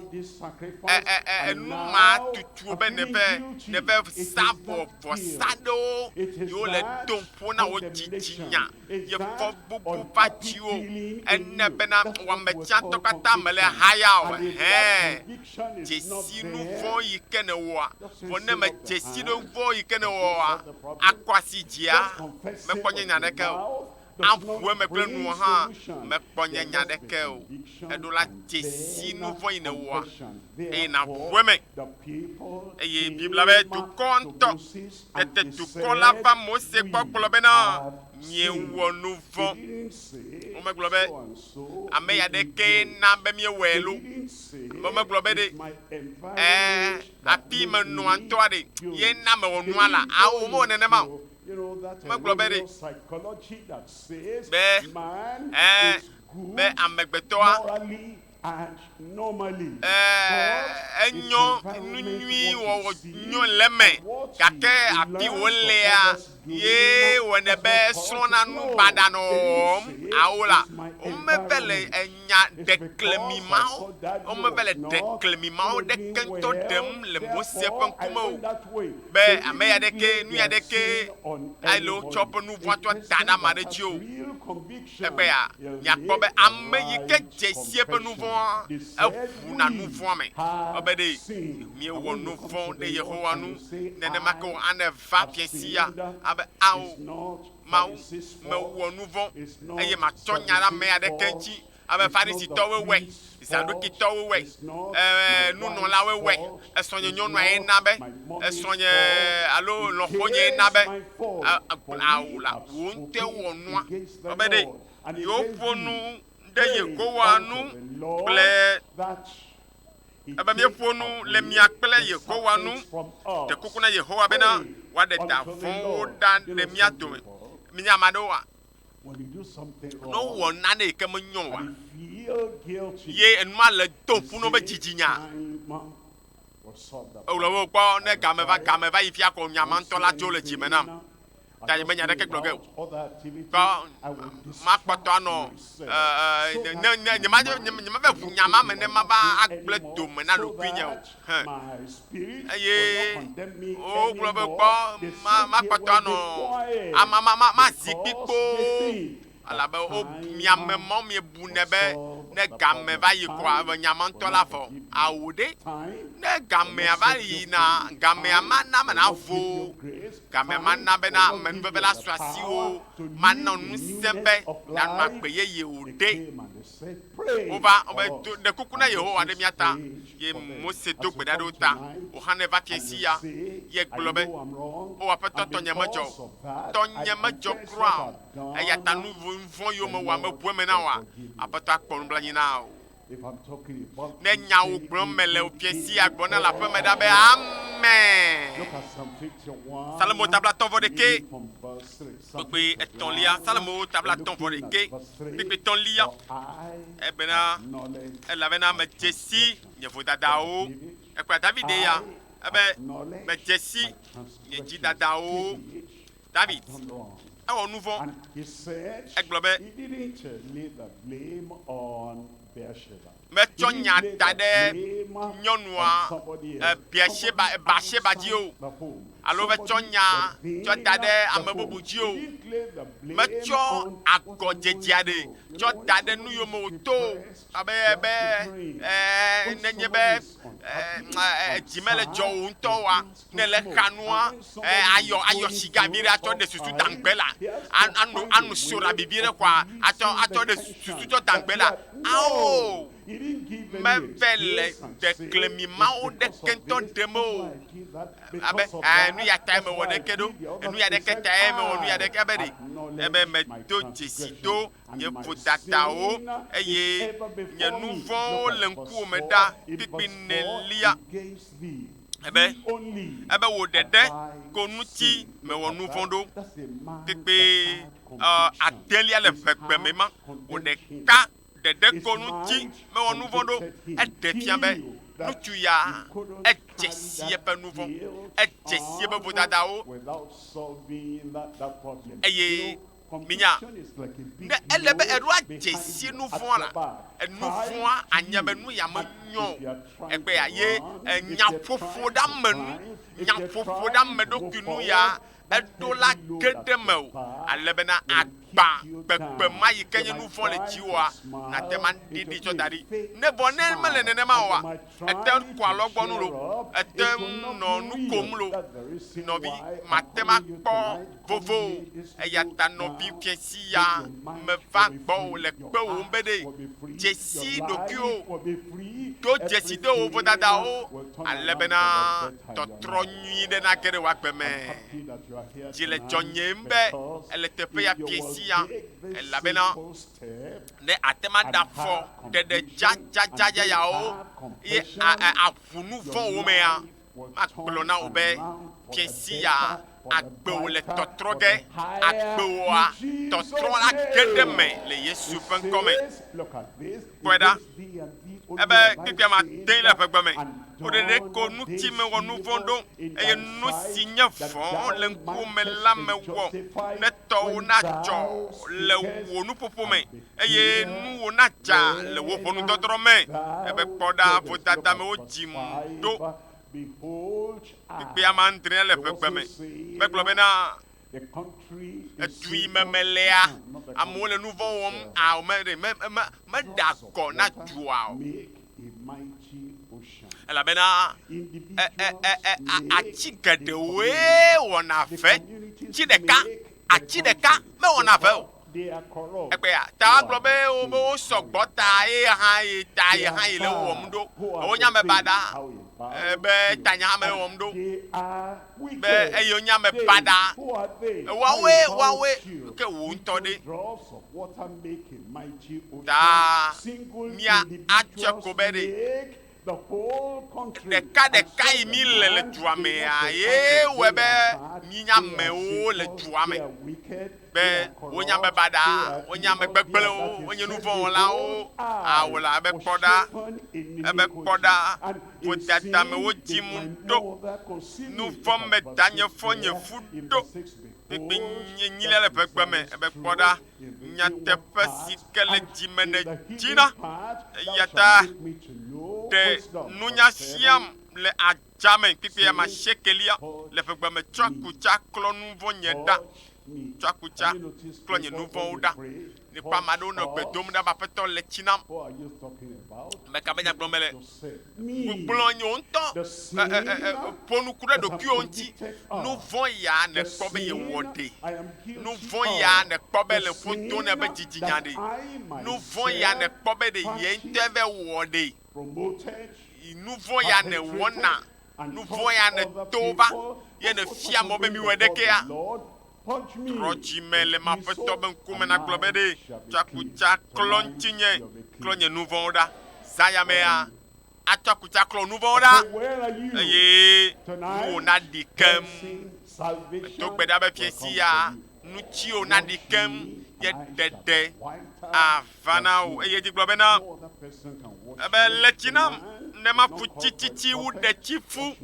enu ma tutuo
be
nève
nève
sa
vɔ
vɔsa
ɖewo
yiwo
le
tom ƒo
na wò dzitsinya
ye
fɔbubu
va
dziwò. Ene
bena
wɔme
tsãtɔ katã
mèle haya o. Hẽ, dzesi
nu vɔ̃ yi
ke nèwɔa. Vɔ ne
mèdzesi
nu
vɔ̃ yi ke nèwɔa,
akɔ
asi dzia,
mekpɔ
nye nya aɖeke o.
aƒuƒueme
kple nuwò
hã
mekpɔ
nye nya
aɖeke
o.
Eɖo
la,
dze
si nu
vɔ̃ yi
nèwɔa, eye
nàʋu eme. Eye Biblia be,
Dukɔ ŋutɔ. Tete
dukɔ la va
Mose
gbɔ
gblɔ bena, Miewɔ
nu
vɔ̃.
Womegblɔ be,
Ame
ya ɖe kee
na be
míewɔe loo.
Amewo megblɔ
be ɖe,
Ɛ̃,
afii menɔa ŋutɔa
ɖe ye
na
mewɔ nua
lea?
Ao, womewɔ nenema o. Megblɔ
be ɖe be
ɛɛ
be
amegbetɔa
ɛɛ enyɔ nu
nyui
wɔwɔ
nyɔ
le eme gake afi
wòlea ye
wɔnɛ be
srɔ̃na
nu baɖa nɔ
wɔwɔm ao
la
womeve
le.
nya
ɖeklemi mawo. Womeva
le
ɖeklemi
mawo
ɖeke
ŋutɔ ɖem
le
Mose
ƒe
ŋkume o, be
ame ya ɖeke, nu ya
ɖeke ale
wotsɔ woƒe nu
vɔ̃a tsɔ da ɖe
ame
aɖe dzi o.
Egbea,
miakpɔ be
ame
yi ke
dze
si eƒe nu
vɔ̃a,
eʋuna
nu vɔ̃a me.
Wobe ɖe miewɔ nu
vɔ̃ ɖe Yehowa ŋu, nenema ke wòane
va
fiasia abe,
Ao, Mawu mewɔ
nu vɔ̃,
eye matsɔ
nya ɖe ame
aɖeke ŋuti
abe Farisitɔwoe
wɔe, Zaɖokitɔwoe
wɔe,
ɛɛ,
nunɔlawoe wɔe,
esrɔ̃nyenyɔnuae
na
be,
esrɔ̃nye alo lɔ̃xonyae
na be agbla
wò la, wò ŋutɔe
wɔ nua.
Kpɔ be
ɖe yewoƒo
nu ɖe
Yehowa ŋu kple
Ebe míeƒo nu
le
mia
kple Yehowa ŋu, ɖe kuku
na Yehowa bena
wòaɖe da
vɔ̃wo
ɖa
le
mía
dome. Mienye ame
aɖewoa, ne
wowɔ nane yi
ke
menyo
oa,
ye enuma le
do ŋu na woƒe dzidzinya.
Egblɔ be wòkpɔ ne game va
game va yi fia ko nya ma ŋutɔ la tso le dzi me nam. ta nyemenya ɖeke gblɔ ge o. Tɔ makpɔtɔ anɔ ɛɛ ne ne nyema nyemava ʋu nya ma me ne mava agblẽ dome na ɖokuinye o. Hẽ. Eye wogblɔ be kpɔ ma makpɔtɔ anɔ ama ma ma mazi kpi kpoo. Elabe wo, miame mɔ miebu nɛ be ne gamɛ va yi koa evɔ nya ma ŋutɔ la vɔ. Ao ɖe! Ne gamɛa va yina, gamɛa mana ame navo wo. Gamɛa mana bena amenuveve la su asiwò, mana wò ŋusẽ be nànɔ agbe yeye o ɖe! Wova be do ɖe kuku na Yehowa ɖe mía ta. Ye Mose do gbe ɖa ɖe wo ta. Wòxanɛ va fiẽsia. Ye gblɔ be, O Aƒetɔ tɔnye medzɔ o. Tɔnye medzɔ kura o. Eya ta nu vɔ̃ yome wɔ ame bu eme na wòa? Aƒetɔ akpɔ nublanui na wò. Ne nyawo gblɔm mele o fiẽsia gblɔ na le aƒe me ɖa be, Amen. Psalmo tablatɔ-vɔ-ɖekɛ. Kpekpe etɔ̃lia, Salomo ta blaatɔ̃ vɔ ɖekɛ, kpekpe etɔ̃lia, ebena, elabena medze si nye vodadawo, ekpla Davide ya, ebe, medze si nye dzidadawo, David, ewɔ nu vɔ̃, egblɔ be. metsɔ nya da ɖe nyɔnua Biasheba, Bathsheba dzi o, alo metsɔ nya tsɔ da ɖe ame bubu dzi o. Metsɔ agɔdzedzea ɖe tsɔ da ɖe nu yome wòto o, abe be nenye be dzi mele dzɔ wò ŋutɔ oa, ne le xanua ayɔ ayɔ siga bi ɖe atsɔ ɖe susu dangbe la anu anu sora bibi ɖe xɔa atsɔ atsɔ ɖe susu tsɔ dangbe la ao meve le dekle mi mawo ɖeke ŋutɔ ɖem o abe nu ya tae mewɔ ɖeke ɖo nu ya ɖeke tae mewɔ nu ya ɖeke abe ɖe ebe medo dzesi do nye vodadawo, eye nye nu vɔ̃wo le ŋkuwò me ɖa kplikpli nèlia be ebe wò ɖeɖe ko ŋuti mewɔ nu vɔ̃ ɖo. Kplikpli ɔ, adelia le ʋegbe me ma, wò ɖeka ɖeɖe ko ŋuti mewɔ nu vɔ̃ ɖo. Eɖe fia be ŋutsu ya, edze si eƒe nu vɔ̃, edze si eƒe vodadawo, eye Minya, ne ele be èɖo adze si nu vɔ̃a la, enu vɔ̃a anye be nu ya menyɔ o egbea ye nyaƒoƒoɖeamenu, nyaƒoƒoɖeameɖokuinu ya eɖo la ge ɖe mewò ale bena agbã kpekpemaɣi ke nye nu vɔ̃ le dziwòa nate ŋu aɖiɖi tsɔ da ɖi. Ne vɔ ne mele nenema oa, Ète ŋu xɔ alɔgbɔnu loo, ète ŋu nɔ nu kom loo, nɔvi, màte ŋu akpɔ vovo o, eya ta nɔvi fiẽsi ya meva gbɔwò le kpewòm be ɖe dzesi ɖokuiwò, ɖo dzesi ɖe wò vodadawo, ale bena tɔtrɔ nyui ɖe nage ɖe wò agbe me. Dzi le dzɔnyem be èle teƒe ya fiẽsi ya, elabena. ne àte ŋu aɖafɔ ɖeɖe dzadzadza yayawo eye àʋu nu vɔ̃wo mea, magblɔ na wò be, Fiẽ sia agbe wò le tɔtrɔ ge, agbe wòa tɔtrɔ age ɖe eme le Yesu ƒe ŋkɔ me. Kpɔe ɖa, ebe kpekpea mate ŋu le eƒegbe me o ɖeɖeko nu si mewɔ nu vɔ̃ ɖo, eye nu si nye vɔ̃ le ŋkuwò me la mewɔ ne tɔwo nadzɔ le wò nuƒoƒo me, eye nuwò nadza le wò ʋɔnudɔdrɔ̃ me. Ebe, Kpɔ ɖa, vodadamewo dzim ɖo kpekpe ame adre le ʋegbe me. Megblɔ bena, Edu yi me melea, amewo le nuvɔ̃ wɔm ao. Meɖe, me, me, meɖea gɔ na dua o. Elabena ati geɖewoe wɔna ʋe, tsi ɖeka, ati ɖeka mewɔna ʋe o. Egbea ta agblɔ be wobe wo sɔgbɔ ta ye hã ye ta ye hã ye le wɔm ɖo. Wonya me baɖa be tanya me wɔm ɖo. be eye wonye ame baɖa. Woawoe, woawoe, ke wò ŋutɔ ɖe? Ta mía atsyɔe ko be ɖe ɖekaɖeka yi mí le le dua mea ye wɔe be mí nye amewo le dua me. be wonye ame baɖa, wonye ame gbegblẽwo, wonye nu vɔ̃ wɔlawo. A Wòle abe kpɔ ɖa, ebe kpɔ ɖa, vodada me wodzi mum ɖo, nu vɔ̃ me danye fɔ nye fu ɖo, kpikpinyee nyilia le ʋegbe me, ebe kpɔ ɖa, nyateƒe si ke le dzi me nèdzina. Eya ta ɖe nunya siam le ag. Tsa me kpikpi ama shekelia le ƒegbe me, tsɔ akutsa klɔ nu vɔ̃ nye ɖa. Tsɔ akutsa klɔ nye nu vɔ̃wo ɖa. Nekpɔ ame aɖewo nɔ gbe dom ɖa be Aƒetɔ le tsi nam. Ame ka be nya gblɔm mele? Gblɔ nye ŋutɔ ƒo nuku ɖe ɖokuiwò ŋuti. Nu vɔ̃ ya nèkpɔ be yewɔ ɖe? Nu vɔ̃ ya nèkpɔ be le ƒo do nɛ be dzidzinya ɖe? Nu vɔ̃ ya nèkpɔ be ɖe ye ŋutɔe vɛ wɔ ɖe? yi nu vɔ̃ ya nèwɔna, nu vɔ̃ ya nèto va, ye nèfia mɔ be miwɔe ɖe kea? Trɔ dzi me le m'Aƒetɔ be ŋkume nàgblɔ be, Ɖe tsɔ akutsa klɔ ŋutinye klɔ nye nu vɔ̃wo ɖa. Zã ya mea, atsɔ akutsa klɔ wò nu vɔ̃wo ɖa, eye nuwò naɖi keŋ. Medo gbe ɖa be Fiẽ Sia, nu tsiwò naɖi keŋ, nye ɖeɖe ava. va na wò. Eye edzi gblɔ bena, ebe le tsi nam ne maƒu tsi tsitsi wu ɖetsi ƒu.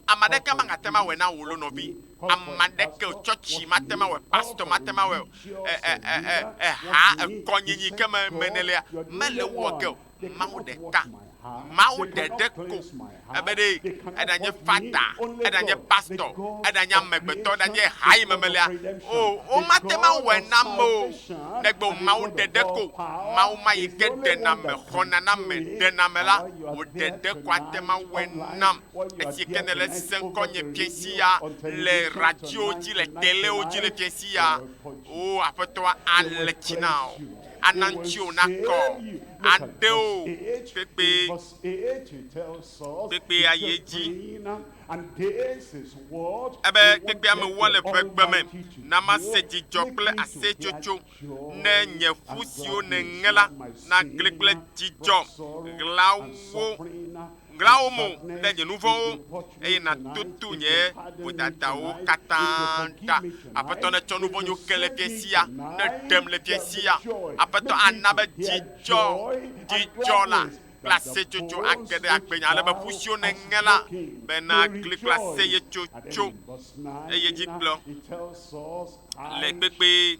Ame aɖeke magate ŋu awɔe na wò lo nɔvi. Ame aɖeke o, tsɔtsi mate ŋu awɔe, pastɔ mate ŋu awɔe o, e, e, e, e, eha, ekɔnyinyi ke me, me nèlea, mele ewɔ ge o. Mawu ɖeka Mawu ɖeɖe ko ebe ɖe eɖanye fata, eɖanye pastɔ, eɖanye amegbetɔ, eɖanye ha yi me melea, o, womate ŋu awɔe na ame o, negbe wò Mawu ɖeɖe ko. Mawu ma yi ke ɖena ame, xɔna na ame, ɖena ame la, wò ɖeɖe ko ate ŋu awɔe nam. Esi ke nèle sesẽ ŋkɔ nye fiãsi ya le radiowo dzi, le telewo dzi le fiãsi ya, o, Aƒetɔa ale tsi na wò. ana ŋutiwò nakɔ, aɖe wò tegbee, tegbee ayi edzi. Ebe tegbea mewɔ le ʋegbe me, na mase dzidzɔ kple aseyetsotso, ne nye ƒu siwo nèŋe la nagli kple dzidzɔ ɣlawo. Ɣla wò mo ɖe nye nu vɔ̃wo, eye nàtutu nye vodadawo katã ɖa. Aƒetɔ netsɔ nu vɔ̃ nyo ke le fiẽ sia, neɖem le fiẽ sia. Aƒetɔ ana be dzidzɔ, dzidzɔ la, kple aseyetsotso age ɖe agbenye, ale be ƒu siwo nèŋe la be nagli kple aseyetsotso, eye dzi kplɔ le kpekpee,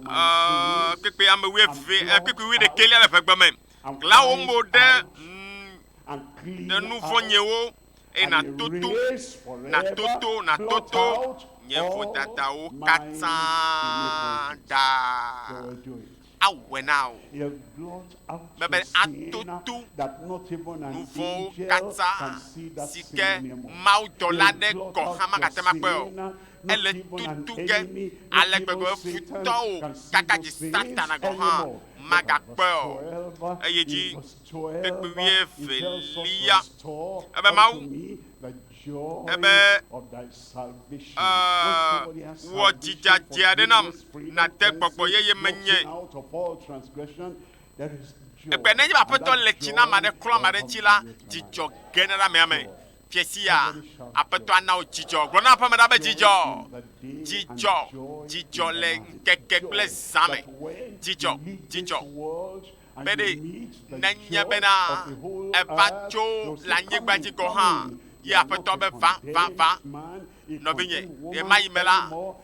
aa, kpekpee ame wuieve, aa, kpekpee wuiɖekɛlia le ʋegbe me. Ɣla wò mo ɖe ŋu ɖe nu vɔ̃ nyewo, eye nàtoto, nàtoto, nàtoto nye vodadawo katã ɖa. Awɔe na wò be be atoto nu vɔ̃wo katã si ke mawudɔla aɖe gɔ̃ hã magate ŋu akpɔe o. Ele tutu ge ale gbegbe be futɔwo kaka dzi Satana gɔ̃ hã magakpɔe o. Eyi edzi ƒe wuievelia, ebe Mawu, ebe, e, wɔ dzi dzadzɛ aɖe nam, nàde gbɔgbɔ yeye menye. Egbe nenye be Aƒetɔ le tsi na ame aɖe, klɔ ame aɖe tsi la, dzidzɔ gena ɖe amea me. Fiẽ sia, Aƒetɔa na wò dzidzɔ. Gblɔ na aƒeme ɖa be dzidzɔ, dzidzɔ, dzidzɔ le ŋkeke kple zã me. Dzidzɔ, dzidzɔ. Be ɖe nenye bena eva tso le anyigba dzi gɔ̃ hã, ye Aƒetɔ be va, va, va. Nɔvinye, ɣemaɣi me la,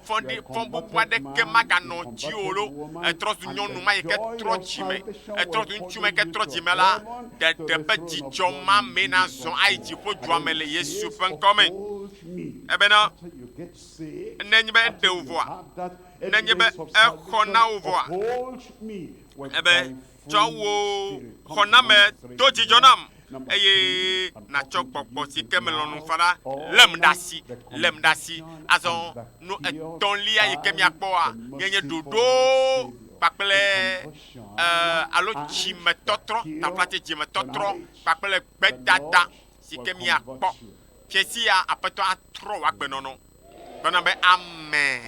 fɔɖi fɔbubu aɖeke maganɔ dziwò lo. Ètrɔ zu nyɔnu ma yi ke trɔ dzime, ètrɔ zu ŋutsu ma yi ke trɔ dzime la. Ɖeɖe ƒe dzidzɔ ma mee nazɔ ayi dziƒodua me le Yesu ƒe ŋkɔ me. Ebena, nenye be eɖe wò vɔa, nenye be exɔ na wò vɔa, ebe tsɔ wò xɔname do dzidzɔ nam, eye nàtsɔ gbɔgbɔ si ke melɔ̃ nu fana lém ɖe asi, lém ɖe asi. Azɔ nu etɔ̃lia yi ke míakpɔa nye nye ɖoɖo kpakple alo dzimetɔtrɔ, taflatse dzimetɔtrɔ kpakple gbedada si ke míakpɔ. Fiẽ sia Aƒetɔ atrɔ wò agbenɔnɔ. Gblɔ nam be, Amen.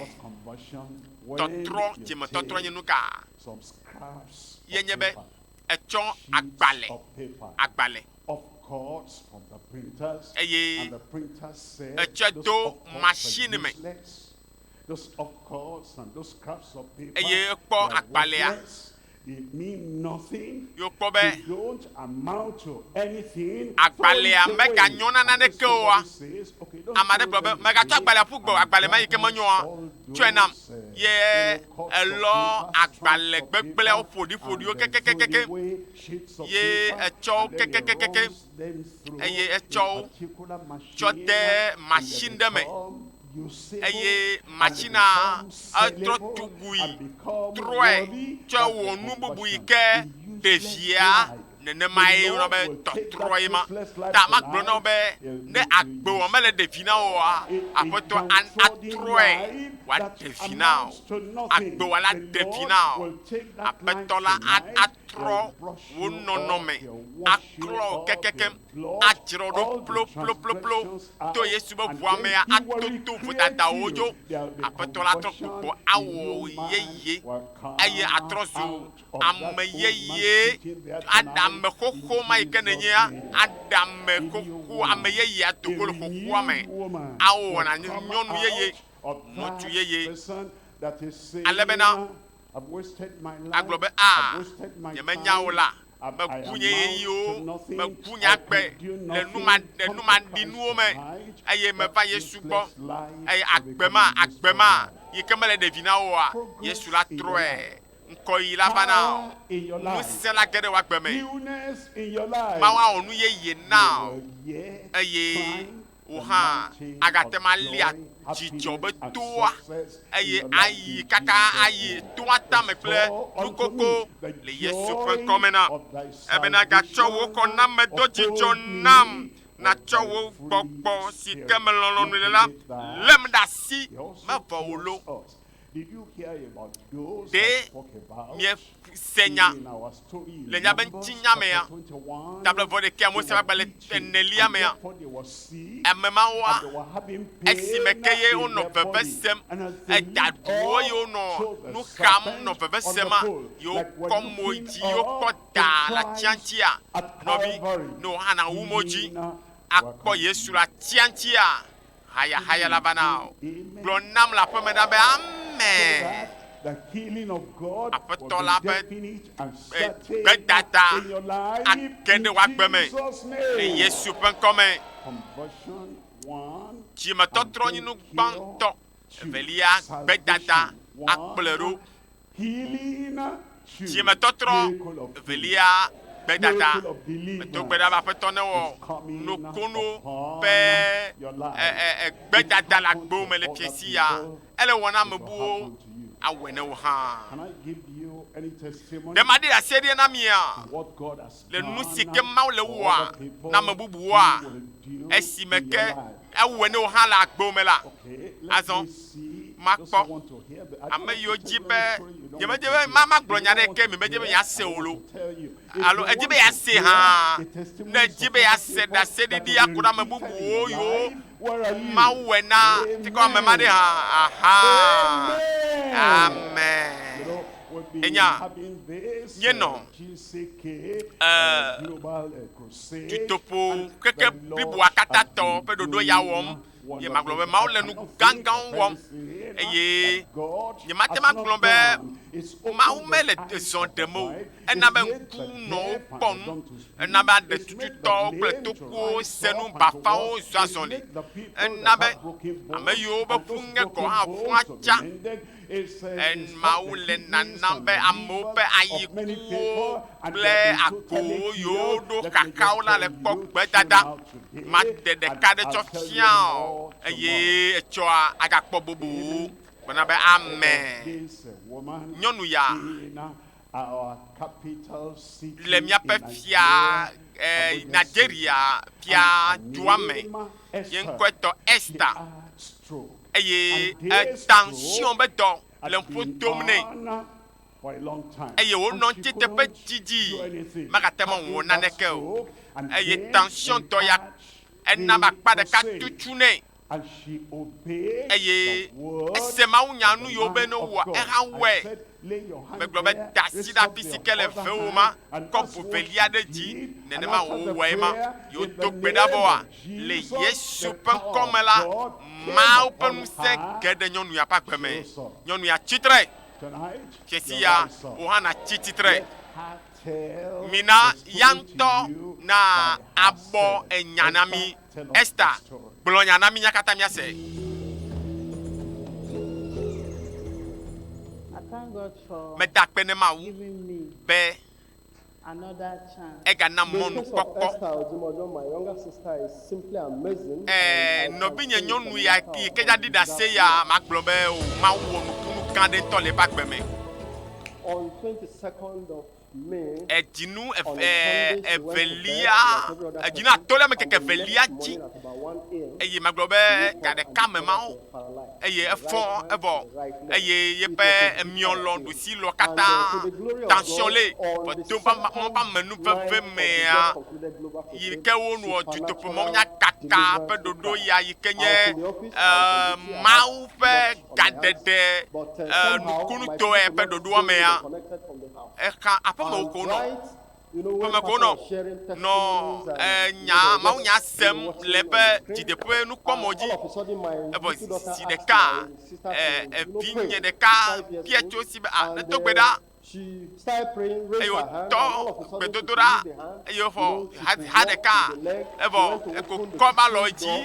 Tɔtrɔ, dzimetɔtrɔ nye nu ka? ye nye be etsɔ agbalẽ, agbalẽ,
eye etsɔe do machine
me,
eye ekpɔ agbalẽa, yokpɔ be agbalẽa
meganyɔ na naneke oa, ame aɖe gblɔ be, mègatsɔ agbalẽa ƒu gbe o, agbalẽ ma yi ke menyɔa, tsɔe nam, ye Elɔ agbalẽ gbegblẽawo ƒoɖiƒoɖiwo kekekekekeŋ, ye etsɔ wo kekekekekeŋ, eye etsɔ wo tsɔ de machine ɖe me, eye machinea etrɔ tugui, trɔe tsɔe wɔ nu bubu yi ke ɖevia. nenemae wona be tɔtrɔe ma ta magblɔ na wo be ne agbe wɔ mele ɖe vi na woa, Aƒetɔ atrɔe wòaɖe vi na wo. Agbe wɔ la ɖe vi na wo. Aƒetɔ la atrɔ wò nɔnɔme aklɔ wò kekekem, adzra wò ɖo ploploplo to Yesu be ʋua mea ato to vodadawo dzo. Aƒetɔ la atrɔ gbogbo awɔ wò yeye eye atrɔ zu Ame yeye, aɖeame xoxo ma yi ke nènye, aɖeame xoxo, ame yeye ato go le xoxoa me, ao wɔna nyɔnu yeye, ŋutsu yeye, ale bena
agblɔ be, A,
nyemenya wò la, meku nye ɣeyiɣiwo, meku nye agbe le numaɖe, numaɖinuwo me, eye meva Yesu gbɔ, eye agbe ma, agbe ma yi ke mele ɖevi na woa, Yesu la trɔe. ŋkɔ ɣi la va na ɔ, nu si sela ge ɖe wò agbe me. Mawu awɔ nu yeye na ɔ, eye wò hã agate ŋu alia dzidzɔ be toa, eye ayi kaka ayi toa tame kple nukoko le Yesu ƒe ŋkɔ me na ebe nagatsɔ wò xɔnamedodzidzɔ nam, natsɔ wò gbɔgbɔ si ke me lɔlɔ̃nu le la lém ɖe asi mevɔ o lo.
Ɖe
miese nya le nya be ŋutinya mea? Tablɛ vɔ ɖekɛ Mose ƒe agbalẽ enelia mea, ame mawoa, esime ke ye wonɔ veve sem, eda ɖuwo ye wonɔ nu xam nɔ veve sema, ye wokɔ mo yi dzi ye wokɔ da le atia ŋutia, nɔvi, ne wò hã nàwu mo dzi akpɔ Yesu le atia ŋutia? hayahaya elabana gblɔ nam le aƒeme na be, Amen.
Aƒetɔ la ƒe gbedada age ɖe wò agbe
me le Yesu
ƒe
ŋkɔ
me. Dzimetɔtrɔnyinu
gbãtɔ evelia gbedada akplɔe ɖo.
Dzimetɔtrɔ
evelia
gbedada.
Medo
gbe ɖa be Aƒetɔ newɔ
nokono ƒe gbedada le agbewo me le fiẽ si ya. Ele wɔ na ame buwo, awɔe na wò hã.
Ɖe maɖe asie ɖia na
mia?
le nu si ke Mawu
le wɔa na ame bubuwoa?
Esime ke
ewɔe na wò
hã le
agbewo me la, azɔ makpɔ ame
yiwo dzi be
nyemedi
be magblɔ
nya
ɖe ke mi
medze be yease
o
lo
alo edzi be yease hã ne
edzi
be yease
ɖaseɖiɖi akɔ
ɖe ame bubuwo
yiwo Mawu
wɔe na
tikɔ ame ma ɖe hã aha amen
enya
nye
nɔ Dutoƒo
keke
bliboa
katã
tɔ
ƒe ɖoɖo ya
wɔm.
Ye magblɔ be
Mawu le
nu gãgãwo wɔm eye nyemate
ŋu agblɔ be Mawu mele zɔ
ɖem
o.
Ena
be
ŋku nɔ wo
kpɔ
nu. Ena be aɖe
tututɔwo kple tokuwo
se
nu
bafawo zɔ
azɔli.
Ena
be
ame
yiwo ƒe ƒu ŋe
gɔ̃ hã
ƒua
tsã.
Mawu le
nanam be
amewo
ƒe ayikuwo kple agbowo
yiwo
ɖo
xaxa
wo
la le
kpɔ gbedada. Mate
ɖeka ɖe
tsɔ fia o,
eye
etsɔa agakpɔ bubu. Gblɔ na be, Amen.
Nyɔnu ya le míaƒe fia
eh,
Nigeria
fia
dua me,
ye
ŋkɔe tɔ
Esther,
eye
etansion
be dɔ
le ƒo dom
nɛ, eye wonɔ ŋuti teƒe didi,
megate
ŋu wɔ naneke
o, eye
tansion
dɔ ya ena be akpa
ɖeka
tutsu nɛ.
Eye
ese
mawunya nu yiwo
be ne wowɔa, ehã wɔe.
Megblɔ be, Da asi ɖe afi
si
ke
le vewò ma,
kɔ
ʋu
velia ɖe
dzi. Nenema wòwɔe
ma. Yi
wodo gbe ɖa
vɔa,
le Yesu ƒe
ŋkɔ
me la, Mawu
ƒe ŋusẽ
ge ɖe
nyɔnu
ya ƒe
agbe
me. Nyɔnu ya tsi
tre. Ɣesi ya,
wò hã
nàtsi tsitre. Mina ya
ŋutɔ naabɔ
enya
na mí. Ester,
gblɔ
nya na
mí nya katã
míase.
Meda akpe na Mawu
be
ega nam mɔnukpɔkpɔ.
Ɛɛ, nɔvinye
nyɔnu ya yi ke dza ɖi ɖase ya, magblɔ be o, Mawu wɔ nukunu gã aɖe ŋutɔ le eƒe agbe me.
Edzinu evelia,
edzinu
atɔ̃lia me keke
evelia dzi,
eye megblɔ be
ga ɖeka me ma
wo,
eye
efɔ
evɔ,
eye yeƒe
emiɔ
lɔ, ɖusi lɔ
katã,
tension
le, eto ƒe
mɔ ƒe amenu veve
mea,
yi ke wonuɔ
dutoƒo
mɔ
nya kaka ƒe
ɖoɖo
ya
yi ke
nye ee
Mawu ƒe
gaɖeɖe
ee nukunutɔe ƒe ɖoɖoa mea. exa aƒeme ko
nɔ
ƒeme ko nɔ
nɔ enya
mawu nya
sem le eƒe dzideƒe nukpɔmɔ
dzi.
Evɔ
zi ɖeka evinye ɖeka
bia
tso
si be
ah nedo gbe
ɖa
eye wotɔ gbedodoɖa eye
wofɔ
ha
ha ɖeka
evɔ eko kɔ
ba
lɔ
dzi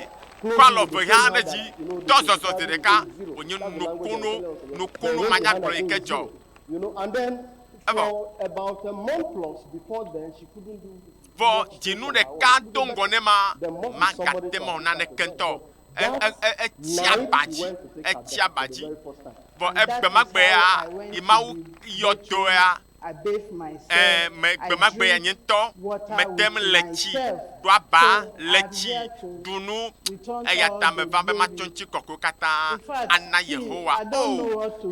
kɔ
alɔ
ve hã
ɖe dzi
tɔ zɔzɔ
zi ɖeka
wonye nukunu
nukunu manyagblɔ yi ke dzɔ. Vɔ dzinu
ɖeka
do
ŋgɔ
ne ma,
magate
mɔ naneke
ŋutɔ
o. Etsi aba dzi, etsi
aba
dzi.
Vɔ
egbe ma gbe
ya,
yi
Mawu
yɔ do
ya, ɛɛ,
me gbe ma gbe
ya nye
ŋutɔ
mete ŋu le
tsi ɖo
aba le tsi ɖu nu, eya ta
meva be
matsɔ ŋuti kɔkɔewo katã ana
Yehowa.
O,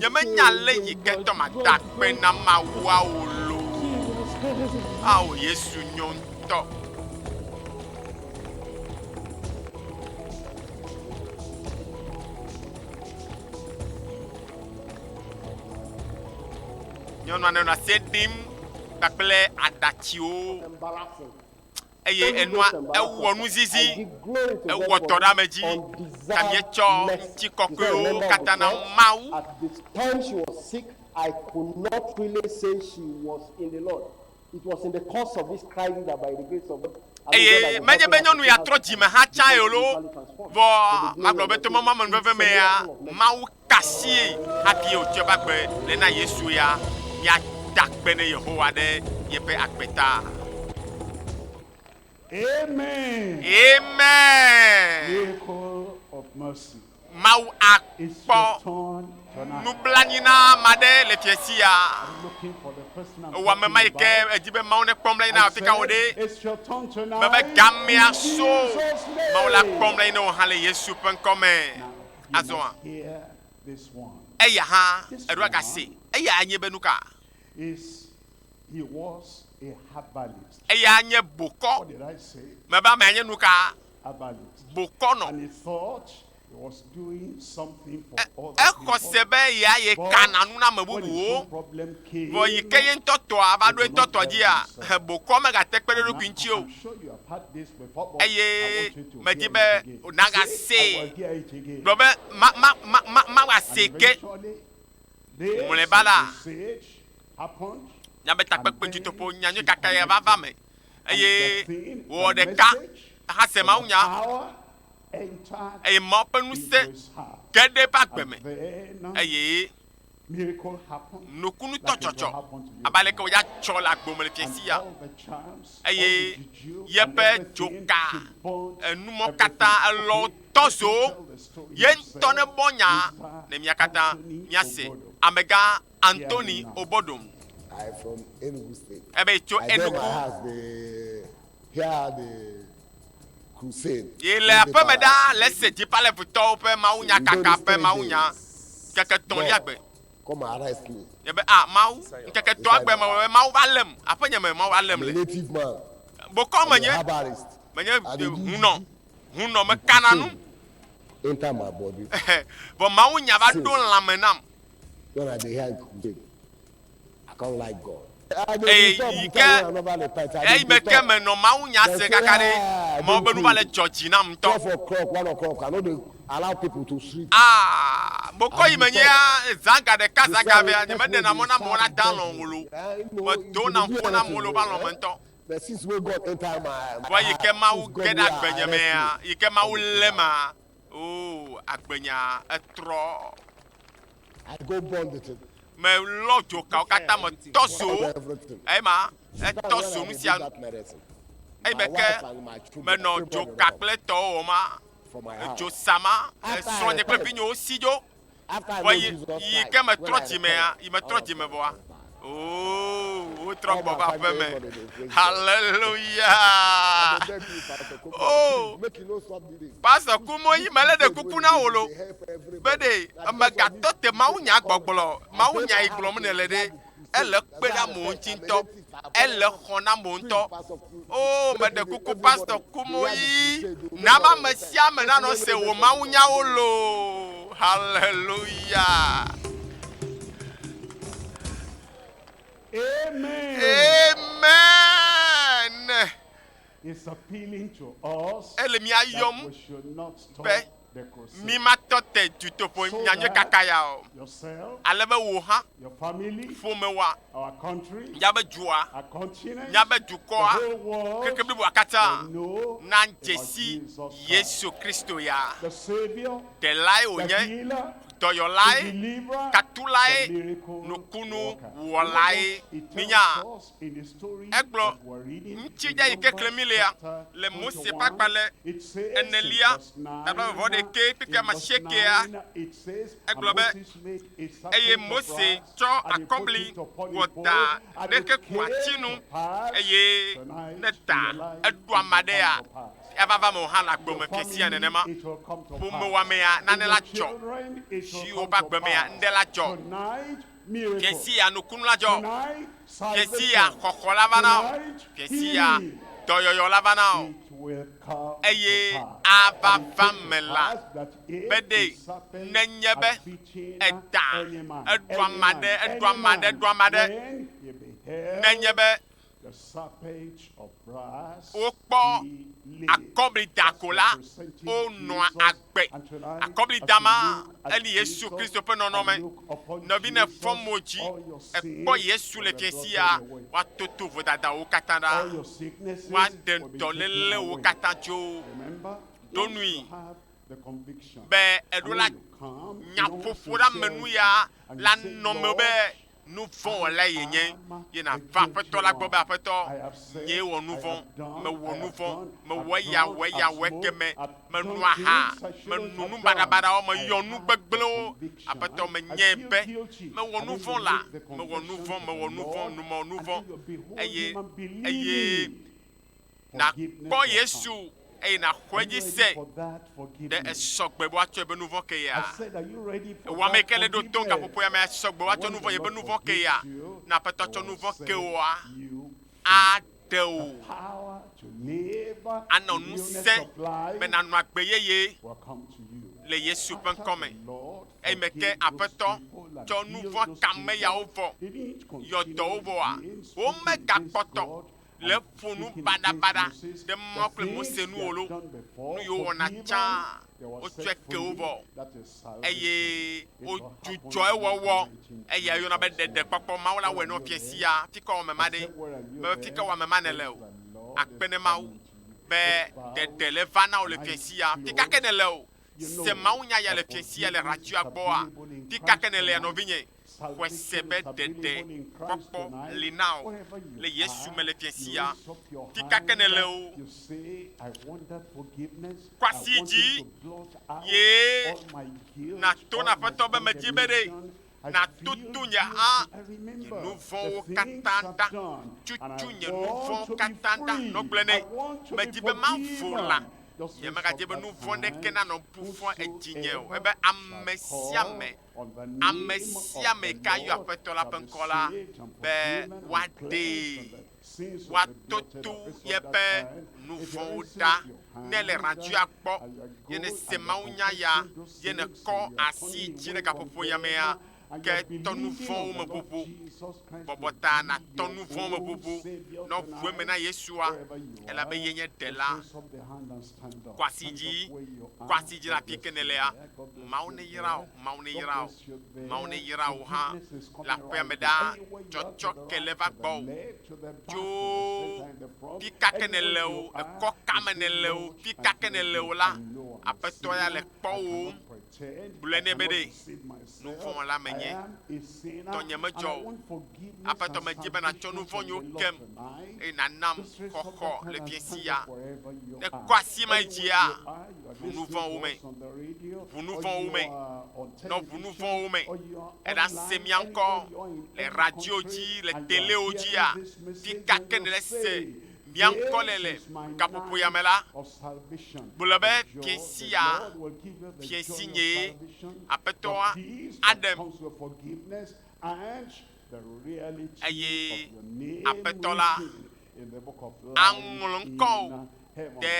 nyemenya ale yi ke dɔ
made
akpe
na Mawua o loo.
Ao, Yesu
nyo ŋutɔ. Nyɔnua nenɔ asie ɖim kpakple
aɖatsiwo.
eye enua ewɔ nuzizi, ewɔ dɔ ɖe ame dzi, ta míetsɔ ŋutikɔkɔewo katã na Mawu.
Eye menye be nyɔnu
ya trɔ dzime hã tsãe o loo, vɔ magblɔ be to mɔmemeveve mea, Mawu Kasie hafi wòtsɔe va gbe le na Yesu ya míada akpe ne Yehowa ɖe yeƒe agbe ta. Amen.
Amen. Mawu
akpɔ
nublanui na ame
aɖe le fiẽ sia.
Ewɔ ame ma yi ke edi
be Mawu
nekpɔm la yi
na afi ka wò ɖe.
Mebe gamea
so. Mawu
la kpɔm la yi na wò
hã le Yesu ƒe ŋkɔ me. Azɔa,
eya hã
eɖoa ga se. Eyae nye be nuka?
Eyae nye
bokɔ.
Mebe amea nye nuka? Bokɔ nɔ. E, exɔ se be
ya ye kana nu na ame
bubuwo.
Vɔ yi
ke ye ŋutɔ
tɔa va ɖo etɔ tɔ dzia, he bokɔ megate kpe ɖe eɖokui ŋuti o.
eye medi
be nàgasee.
Gblɔ be, Ma, ma,
ma, ma, mawɔ asee ke.
Mlɔeba la, nya be takpekpe
dutoƒo nya nyui kaka ye va va eme, eye wòwɔ
ɖeka hase mawunya, eye Mawu ƒe
ŋusẽ
ge
ɖe eƒe
agbe me, eye nukunutɔ tsɔtsɔ abe aleke
wòdze
atsɔ le
agbo me
le
fiasi ya
eye
yeƒe
dzoka enumɔ katã
elɔ tɔzo ye
ŋutɔ ne bɔ
nya ne mia katã miase
amegã
Anthony Obodom
ebe tso Enugu. Yi le aƒe
me ɖa le se Dipalevitɔwo ƒe mawunyakaka ƒe mawunya ŋkeke etɔ̃lia gbe.
Nye be a Mawu,
ŋkeke etɔ̃a gbe me be Mawu va lém aƒe nye me Mawu va lém le.
Bokɔ menye menye
hunɔ
hunɔ
mekana nu.
Vɔ mawunya
va ɖo lãme nam.
Eye yi
ke eyi me ke menɔ mawunya se kaka ɖe mɔ be nu va le dzɔ dzi nam
ŋutɔ. Aa, mokɔ
yi menye ya zã ga ɖeka zã ga vea, nyemeɖena mɔ na amewo na da alɔ̃ ŋu lo. Medona ŋkpɔn na amewo le woƒe alɔ̃ me ŋutɔ.
Vɔ yi ke Mawu ge
ɖe agbenye mea,
yi
ke Mawu
lém a,
oo, agbenya etrɔ.
Melɔ
dzokawo katã, metɔ zo ema etɔ zo nu
sia nu eyi me ke menɔ dzoka
kple tɔwo
wɔma
edzo
sama
esrɔ̃nye kple
vinyewo si dzo.
Vɔ
yi yi ke metrɔ
dzimea yi
metrɔ
dzime
vɔa
Oh, wotrɔ gbɔ va ƒe me. Hallelujah.
Oh, pastor kumo yi mele
ɖe kuku na wo lo. Be
ɖe emegatɔ
te
mawu
nya gbɔgblɔ, mawu nya yi gblɔm ne le ɖe ele kpe na mo ŋuti ŋutɔ, ele xɔ na mo ŋutɔ. Oo, meɖe kuku Pastor Kumuyi, na be ame sia ame nanɔ se wò mawunyawo loo. Hallelujah.
Amen. Amen.
It's
appealing to us Ele mía that yɔm
we should
not be
stop mi
matɔ te
dutoƒo nyanyui kaka ya
o.
Ale be
wò hã, ƒomewòa,
míabe
dua,
míabe
dukɔa,
keke
bliboa katã
nadze
si
Yesu
Kristo ya, Ɖelae wònye,
Dɔyɔlae, Tatulae,
Nukunu
wɔlae. Minya?
Egblɔ
ŋutsinya
yi ke klẽm mílea le
Mose
ƒe agbalẽ
enelia, tagbavɔvɔ
ɖekɛ
kpekpe amasiekea.
Egblɔ be, Eye Mose tsɔ akɔbli wɔ
da ɖe
kekuati nu,
eye ne ta
eɖo
ame
aɖea, evava
me
o hã le agbe
me fiẽ sia nenema.
Ƒomewɔamea, nane
la
dzɔ.
Zi
woƒe agbemea,
nuɖe
la
dzɔ.
Ɣesiya nukunu la
dzɔ,
ɣesiya
xɔxɔ la va na o, ɣesiya dɔyɔyɔ la
va na
o,
eye
ava
va me
la be
ɖe
nenye
be edaa,
eɖu ama
ɖe, eɖu ama ɖe, eɖu ama
ɖe,
nenye be. Wokpɔ akɔblida ko la,
wonɔa
agbe.
Akɔblida
ma
enye Yesu
Kristo ƒe
nɔnɔme. Nɔvi ne
fɔ mo
dzi ekpɔ
Yesu le fia
sia, woatoto
vodadawo
katã ɖa,
woaɖe
dɔlélewo
katã
tso. Ɖo
nui be eɖo la nyaƒoƒo la me nu
ya la nɔ me
be
nu
vɔ̃
wɔlae yenye, ye nàva Aƒetɔ la gbɔ be, Aƒetɔ, nyee wɔ nu vɔ̃, mewɔ nu vɔ̃, mewɔ eya, wɔ eya, wɔ ekemɛ, meno aha, meno nu baɖabaɖawo, meyɔ nu gbegblẽwo. Aƒetɔ, menyae be mewɔ nu vɔ̃ la, mewɔ nu vɔ̃, mewɔ nu vɔ̃, nu mewɔ nu vɔ̃, eye, eye. nàkpɔ Yesu eye nàxɔ edzi se ɖe esɔ gbe be woatsɔ ebe nuvɔ ke ya. Ewɔ ame ke le ɖo to gaƒoƒo ya me asɔ gbe woatsɔ nuvɔ ebe nuvɔ ke ya. Na aƒetɔ tsɔ nuvɔ ke woa aɖe wò. Anɔ ŋusẽ be nanɔ agbe yeye le Yesu ƒe ŋkɔ me. Eyi me ke aƒetɔ tsɔ nuvɔ ka me yawo vɔ yɔ dɔwo vɔa womegakpɔtɔ le ƒo nu baɖabaɖa ɖe Mawu kple Mose nu o loo, nu yiwo wɔna tsã wotsɔe ke wo vɔ, eye wodzudzɔ ewɔwɔ. Eyae woyɔna be ɖeɖekpɔkpɔ. Mawu la wɔe nɔ fiẽ sia fikewɔame ma ɖe. Mebe fikewɔame ma nèle o. Akpe ne Mawu be ɖeɖe le va na wò le fiẽ sia. Fi ka ke nèle o, se mawunya ya le fiẽ sia le hratsua gbɔa? Fi ka ke nèlea, nɔvinye? Xɔe se be dede kpɔkpɔ li na wò le Yesu me le fiẽ sia. Fi ka ke nèle o, kɔ asi yi dzi ye nàto na Aƒetɔ be medi be ɖe nàtutu nye a nye nu vɔ̃wo katã ɖa. Tutu nye nu vɔ̃wo katã ɖa. Nɔ gblɔe nɛ. Medi be mavo la, nyemagadi be nu vɔ̃ ɖeke nanɔ ƒu fɔ edzinye o, ebe ame sia ame ame sia ame yi ke ayɔ Aƒetɔ la ƒe ŋkɔ la be woaɖee, woatoto yeƒe nu vɔ̃wo ɖa. Ne èle radioa kpɔ ye nèse mawunya ya ye nèkɔ asi dzi ɖe gaƒoƒo ya mea, ke tɔ nu vɔ̃wo me ʋuʋu. Bɔbɔ ta nàtɔ nu vɔ̃wo me ʋuʋu. Nɔ ʋu eme na Yesua elabe ye nye Ɖela. Kwasi dzi, kwasi dzi la pike ne lea. Mawu ne yra o, Mawu ne yra o, Mawu ne yra o hã le aƒea me ɖaa. Tsɔtsɔ ke le va gbɔ o. Tso pika ke ne le o, ekɔ kame ne le o, pika ke ne le o la, Aƒetɔ ya le kpɔ wò. Gblɔe nɛ be, Ɖe nu vɔ̃ wɔla menye, tɔ nyemedzɔ o. Aƒetɔ, medi be nàtsɔ nu vɔ̃ nyuiwo kem, eye nànam xɔxɔ le fiẽsia. Ne kɔ asi ma yi dzia, ʋu nu vɔ̃ wo me, ʋu nu vɔ̃ wo me, nɔ ʋu nu vɔ̃ wo me. Èɖa se mía ŋkɔ le radio dzi, le telewo dzia? Fi ka ke nèle se Mia ŋkɔ le le gaƒoƒoya me la, gblɔ be, Fiẽ sia fiẽ si nyee, Aƒetɔa aɖem, eye Aƒetɔ la aŋlɔ ŋkɔwò ɖe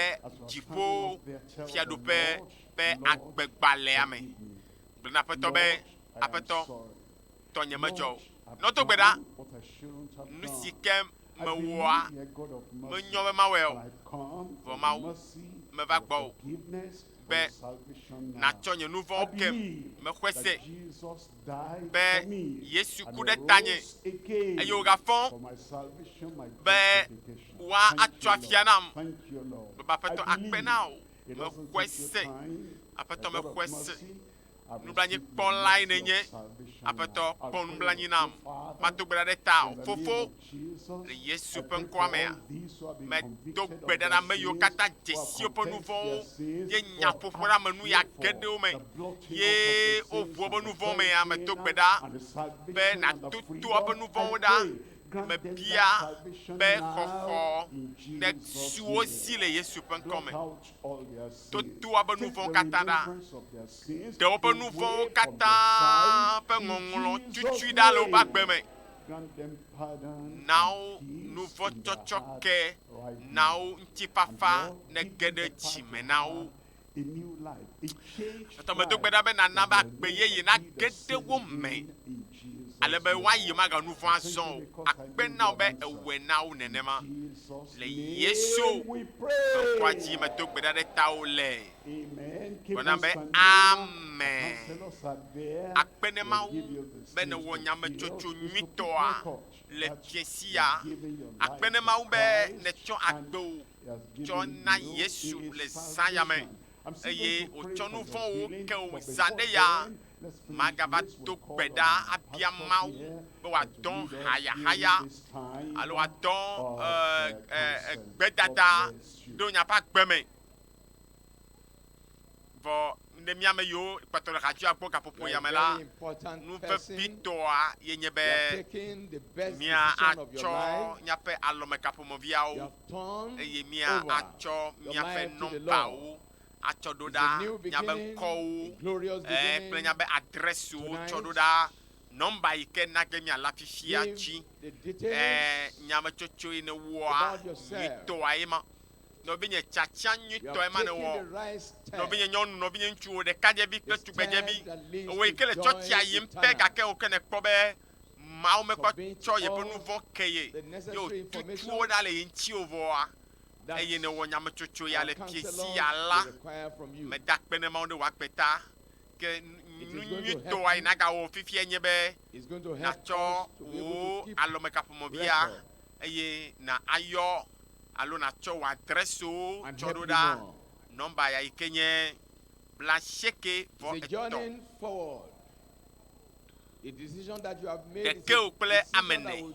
dziƒo fiaɖuƒe ƒe agbegbalẽa me. Gblɔ na Aƒetɔ be, Aƒetɔ, tɔnye medzɔ o. Nɔdo gbe ɖa nu si ke mewɔa, menyɔ be mawɔe o, vɔ Mawu, meva gbɔwò be nàtsɔ nye nu vɔ̃wo kem. Mexɔe se be Yesu ku ɖe tanye, eye wògafɔ be woatso afia nam. Baba Aƒetɔ, akpe na wò. Mexɔe se, Aƒetɔ, mexɔe se. Nublanuikpɔlae nènye. Aƒetɔ, kpɔ nublanui nam. Mado gbe ɖa ɖe tawò, Fofo, le Yesu ƒe ŋkɔa mea, medo gbe ɖa ɖe ame yiwo katã dze si woƒe nu vɔ̃wo ye nyaƒoƒo la me nuya geɖewo me, ye woʋu woƒe nu vɔ̃wo mea, medo gbe ɖa be nàto to woƒe nu vɔ̃wo ɖa. Mebia be xɔxɔ nesu wo si le Yesu ƒe ŋkɔ me. toa be nuvɔwo katã ɖa. Ɖe woƒe nuvɔwo katã ƒe ŋɔŋlɔ tutsui ɖa le woƒe agbe me. Na wo nuvɔ tsɔtsɔke, na wo ŋutifafa ne ge ɖe dzi me na wo. Etɔmedo
gbe ɖa be nana
be agbe yeye nage ɖe wo me.
ale be woayi
maganu vɔ̃ azɔ o, akpe
na
wò be èwɔe na wo nenema. Le
Yesu ƒe
ŋkɔa dzi medo
gbe ɖa ɖe
tawò le gblɔ
nam be
amen.
Akpe ne Mawu
be
nèwɔ nyametsotso nyuitɔa
le fiẽ sia. Akpe
ne Mawu be
nètsɔ agbewò
tsɔ na
Yesu
le zã
ya me eye
wòtsɔ nu
vɔ̃wo
ke
wò zã
ɖe ya
magava
do gbe
ɖa
abia Mawu
be
wòadɔ hayahaya
alo
wòadɔ gbedada
ɖo
nye ƒe agbe me.
Vɔ ne mía ame yiwo kpɔtɔ le xadzɔa gbɔ gaƒoƒo ya me la, nu vevitɔa ye nye be míatsɔ míaƒe alɔmekaƒomɔviawo eye míatsɔ míaƒe nɔmbawo atsɔ ɖo ɖa, nyabe ŋkɔwo, ɛɛ, kple nyabe adrɛsiwo wotsɔ ɖo ɖa, nɔmba yi ke na ge míale afifia dzi. Ɛɛ, nyametsotsoe nèwɔa nyuitɔa ye ma. Nɔvinye, tiatia nyuitɔe ma nèwɔ. Nɔvinye nyɔnu, nɔvinye ŋutsuwo, ɖekadzevi kple tugbedzevi, ewò yi ke le tsɔtsia yim pɛ gake ewò ke nèkpɔ be Mawu mekpɔ tsɔ yeƒe nuvɔ̃ ke ye, ye wòtutu wo ɖa le ye ŋuti o vɔa, eye nèwɔ nyametsotso ya le fiesi ya la me da kpe ne Mawu ne wòakpe ta. Ke nu nyuitɔa yi nagawɔ fifia nye be nàtsɔ wò alɔmekaƒomɔvia eye na ayɔ alo nàtsɔ wò adrɛsiwo tsɔ ɖo ɖa nɔmba ya yi ke nye blaasieke vɔ etɔ̃. Ɖekeo kple ame ene.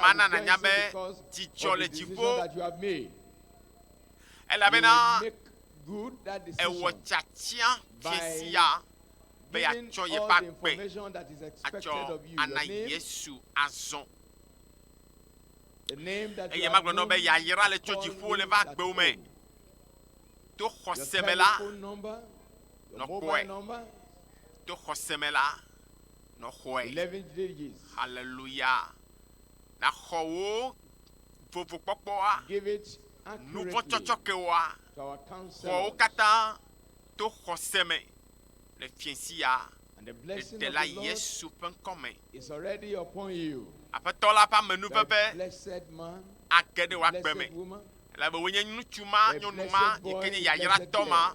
Mana nànya be dzidzɔ le dziƒo, elabena ewɔ tiatia fie sia be yeatsɔ yeƒe agbe atsɔ ana Yesu azɔ. Eye magblɔ nɔ be yayra le tso dziƒo le va agbewo me to xɔse me la nɔkpɔe to xɔse me la nɔ xɔɛ. Haleluya! Naxɔ wò vovokpɔkpɔa, nuvɔ̃ tsɔtsɔkewoa, xɔ wo katã to xɔse me le fiẽ sia Ɖela Yesu ƒe ŋkɔ me. Aƒetɔ la ƒe amenuveve age ɖe wò agbe me, elabe wòe nye ŋutsu ma, nyɔnu ma, yi ke nye yayratɔ ma.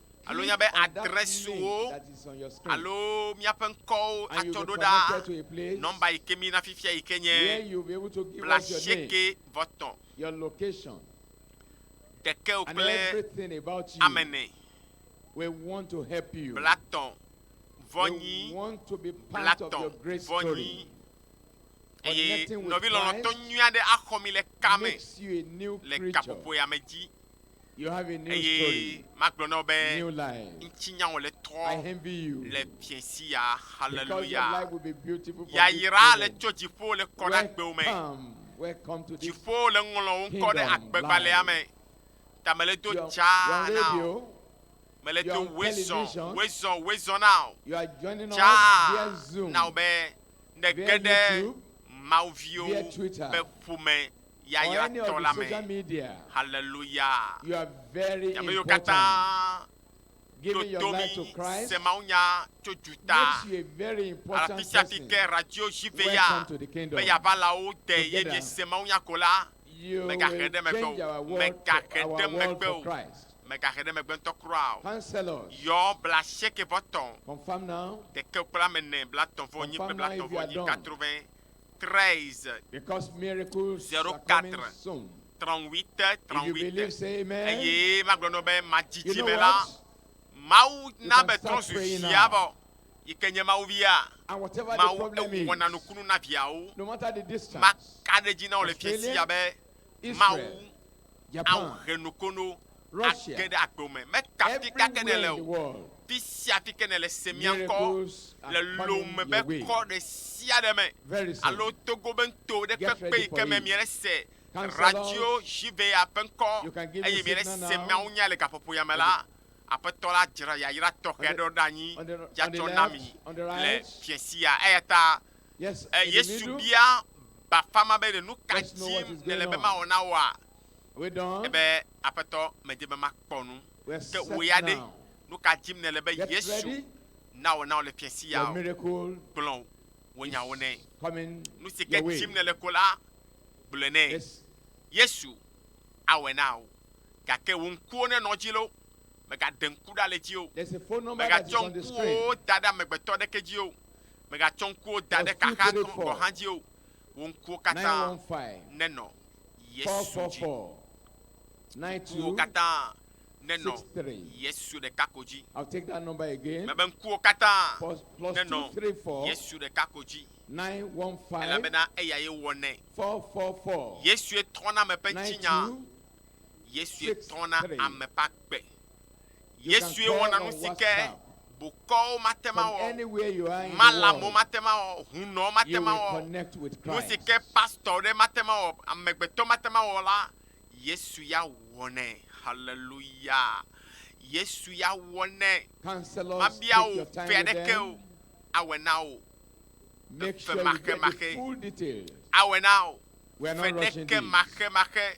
alo nya be adrɛsiwo alo
míaƒe
ŋkɔwo atsɔ ɖo ɖa nɔmba
yi ke mí na fifia
yi ke nye blaasieke
vɔ tɔ̃
ɖekeo kple ame ene
blatɔ̃
vɔ nyi blatɔ̃
vɔ nyi
eye nɔvi lɔlɔ̃tɔ
nyui aɖe
axɔ mi
le
kame
le gaƒoƒoya me
dzi.
eye magblɔ
na wò
be
ŋutsi
nya wòle tɔ
le
fiesi ya
haleluya
yayra le tso dziƒo
le kɔ
ɖe
agbewo me
dziƒo le ŋlɔ wo ŋkɔ
ɖe agbegbalẽa me ta mele do dza na
o mele do
wezɔ
wezɔ wezɔ na
o dza
na
o be nege ɖe mawuviwo be
ƒome
yayratɔ
la me. Haleluya!
Mi
ame yiwo katã
ɖo
to mi se mawunya tso
dzu ta.
Afi sia afi
ke
radio
JV ya be yeava
la wo de
ye miese mawunya ko la, megaxe ɖe megbe o, megaxe ɖe
megbe
o, megaxe ɖe megbe ŋutɔ kura o. Yɔ blaasiekɛvɔtɔ̃,
ɖekɛkplamene,
blatɔ̃vɔnyi kple blatɔ̃vɔnyi,
katruvɛ, 13, 04, 38, 38, eye magblɔ nɔ be
madzi dzi me la,
Mawu
na be trɔ zu
via vɔ, yi ke
nye Mawu via, Mawu
ewɔna
nukunu
na
viawo,
maka ɖe edzi na wò
le fiasia be Mawu
ao
he
nokono
age ɖe
agbewo me. Me
kafi ka ke nele o.
Fi
sia
fi ke nele
se mía ŋkɔ le
lom me
be
kɔ
ɖe
sia ɖe
me alo Togo
be ŋto
ɖe kpekpe yi ke me mie ɖe
se
radio
JVA
ƒe ŋkɔ eye mie ɖe
se mía ŋu
nya le
gaƒoƒo ya
me la, Aƒetɔ la dzra yayra tɔxɛ aɖewo ɖe anyi dza tsɔ na
mi le
fiẽ sia.
Eyata Yesu bia bafa
ma be, Ɖe nu ka dim nèle
be mawɔ na woa? Ebe, Aƒetɔ,
medi be makpɔ nu. Ke wò ya ɖe?
Nu
ka dim
nèle
be Yesu nawɔ
na wò le
fiẽ si ya o?
Gblɔ
wò nyawo nɛ. Nu
si ke dim
nèle ko la, gblɔe nɛ.
Yesu
awɔe na wò. Gake wò ŋkuwo nenɔ edzi loo, mègaɖe ŋku ɖa le edzi o. Mègatsɔ
ŋkuwòwo da ɖe amegbetɔ
aɖeke dzi o. Mègatsɔ ŋkuwò da ɖe kaxa etɔ̃ gɔ̃ hã dzi o, wò ŋkuwo katã nenɔ Yesu
dzi. Ŋkuwò
katã nenɔ Yesu
ɖeka ko
dzi.
Mebe ŋkuwò katã
nenɔ Yesu ɖeka
ko dzi,
elabena
eyae
wɔnɛ.
Yesue tɔna
ame ƒe ŋutinyaa.
Yesue
tɔna ame ƒe agbe.
Yesue wɔna nu si ke bokɔwo mate
ŋu awɔ,
malamo mate ŋu awɔ, hunɔ
mate ŋu awɔ,
nu si
ke
pastɔ aɖe
mate ŋu awɔ, amegbetɔ mate ŋu awɔ la, Yesu ya wɔnɛ. Haleluya! Yesu ya wɔnɛ. Mabia
wò fe
aɖeke o, awɔe na
wò
femaxemaxe.
Awɔe na wò fenekemaxemaxe.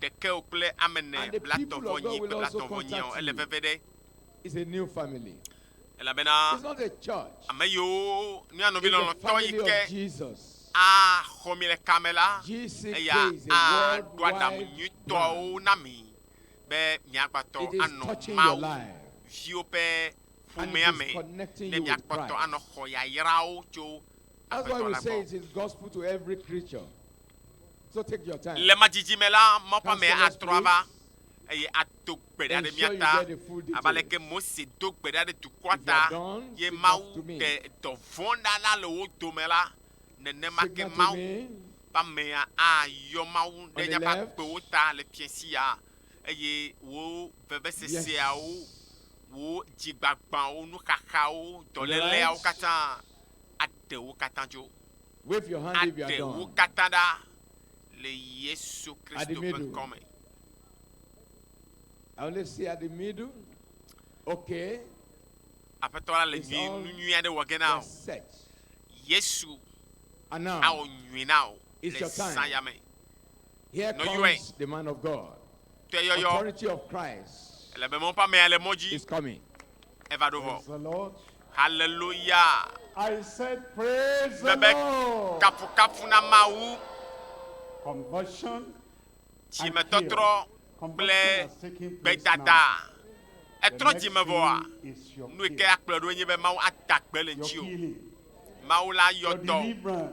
ɖekɛ o
kple ame ne blatɔ vɔ nyi
kple blatɔ
vɔ
nyia o, ele
veve
ɖe. Elabena ame yiwo mía
nɔvi lɔlɔ̃tɔ yi ke
a xɔ mi
le ka me la, eya
a
ɖo
aɖaŋu
nyuitɔawo
na
mi be mia gba tɔ anɔ Mawu viwo
ƒe
ƒomea
me,
ne mia
kpɔ tɔ anɔ xɔ
yayrawo tso
Aƒetɔ la gbɔ. Le ma dzidzi me la,
mɔƒãme atrɔ ava eye ado gbe ɖa ɖe mía ta
abe aleke Mose do
gbe ɖa ɖe dukɔa ta ye
Mawu ɖe dɔ vɔ̃
ɖa la le wo dome la, nenema ke Mawu
ƒe
amea ayɔ Mawu ɖe míaƒe agbewo ta
le
fiẽ sia eye wò veveseseawo, wò dzigbagbãwo, nuxaxawo, dɔléleawo katã aɖe wo katã dzo.
aɖe wo katã ɖa
le Yesu
Kristo ƒe ŋkɔ me.
Aƒetɔ la le nyui nu nyui aɖe wɔ
ge na o. Yesu awɔ nyui na
o le zã ya me.
Nɔyɔe. Tɔyɔyɔ. Ele be mɔ ƒe amea le
mɔ dzi.
Eva ɖo vɔ. Haleluya! Mebe,
Kafukafu
na
Mawu! Dzimetɔtrɔ
kple
gbedada.
Ètrɔ dzi me vɔa?
Nu yi ke
akplɔe ɖo nye be
Mawu
ada
gbe le ŋutiwò. Mawu
la
yɔ dɔ wò.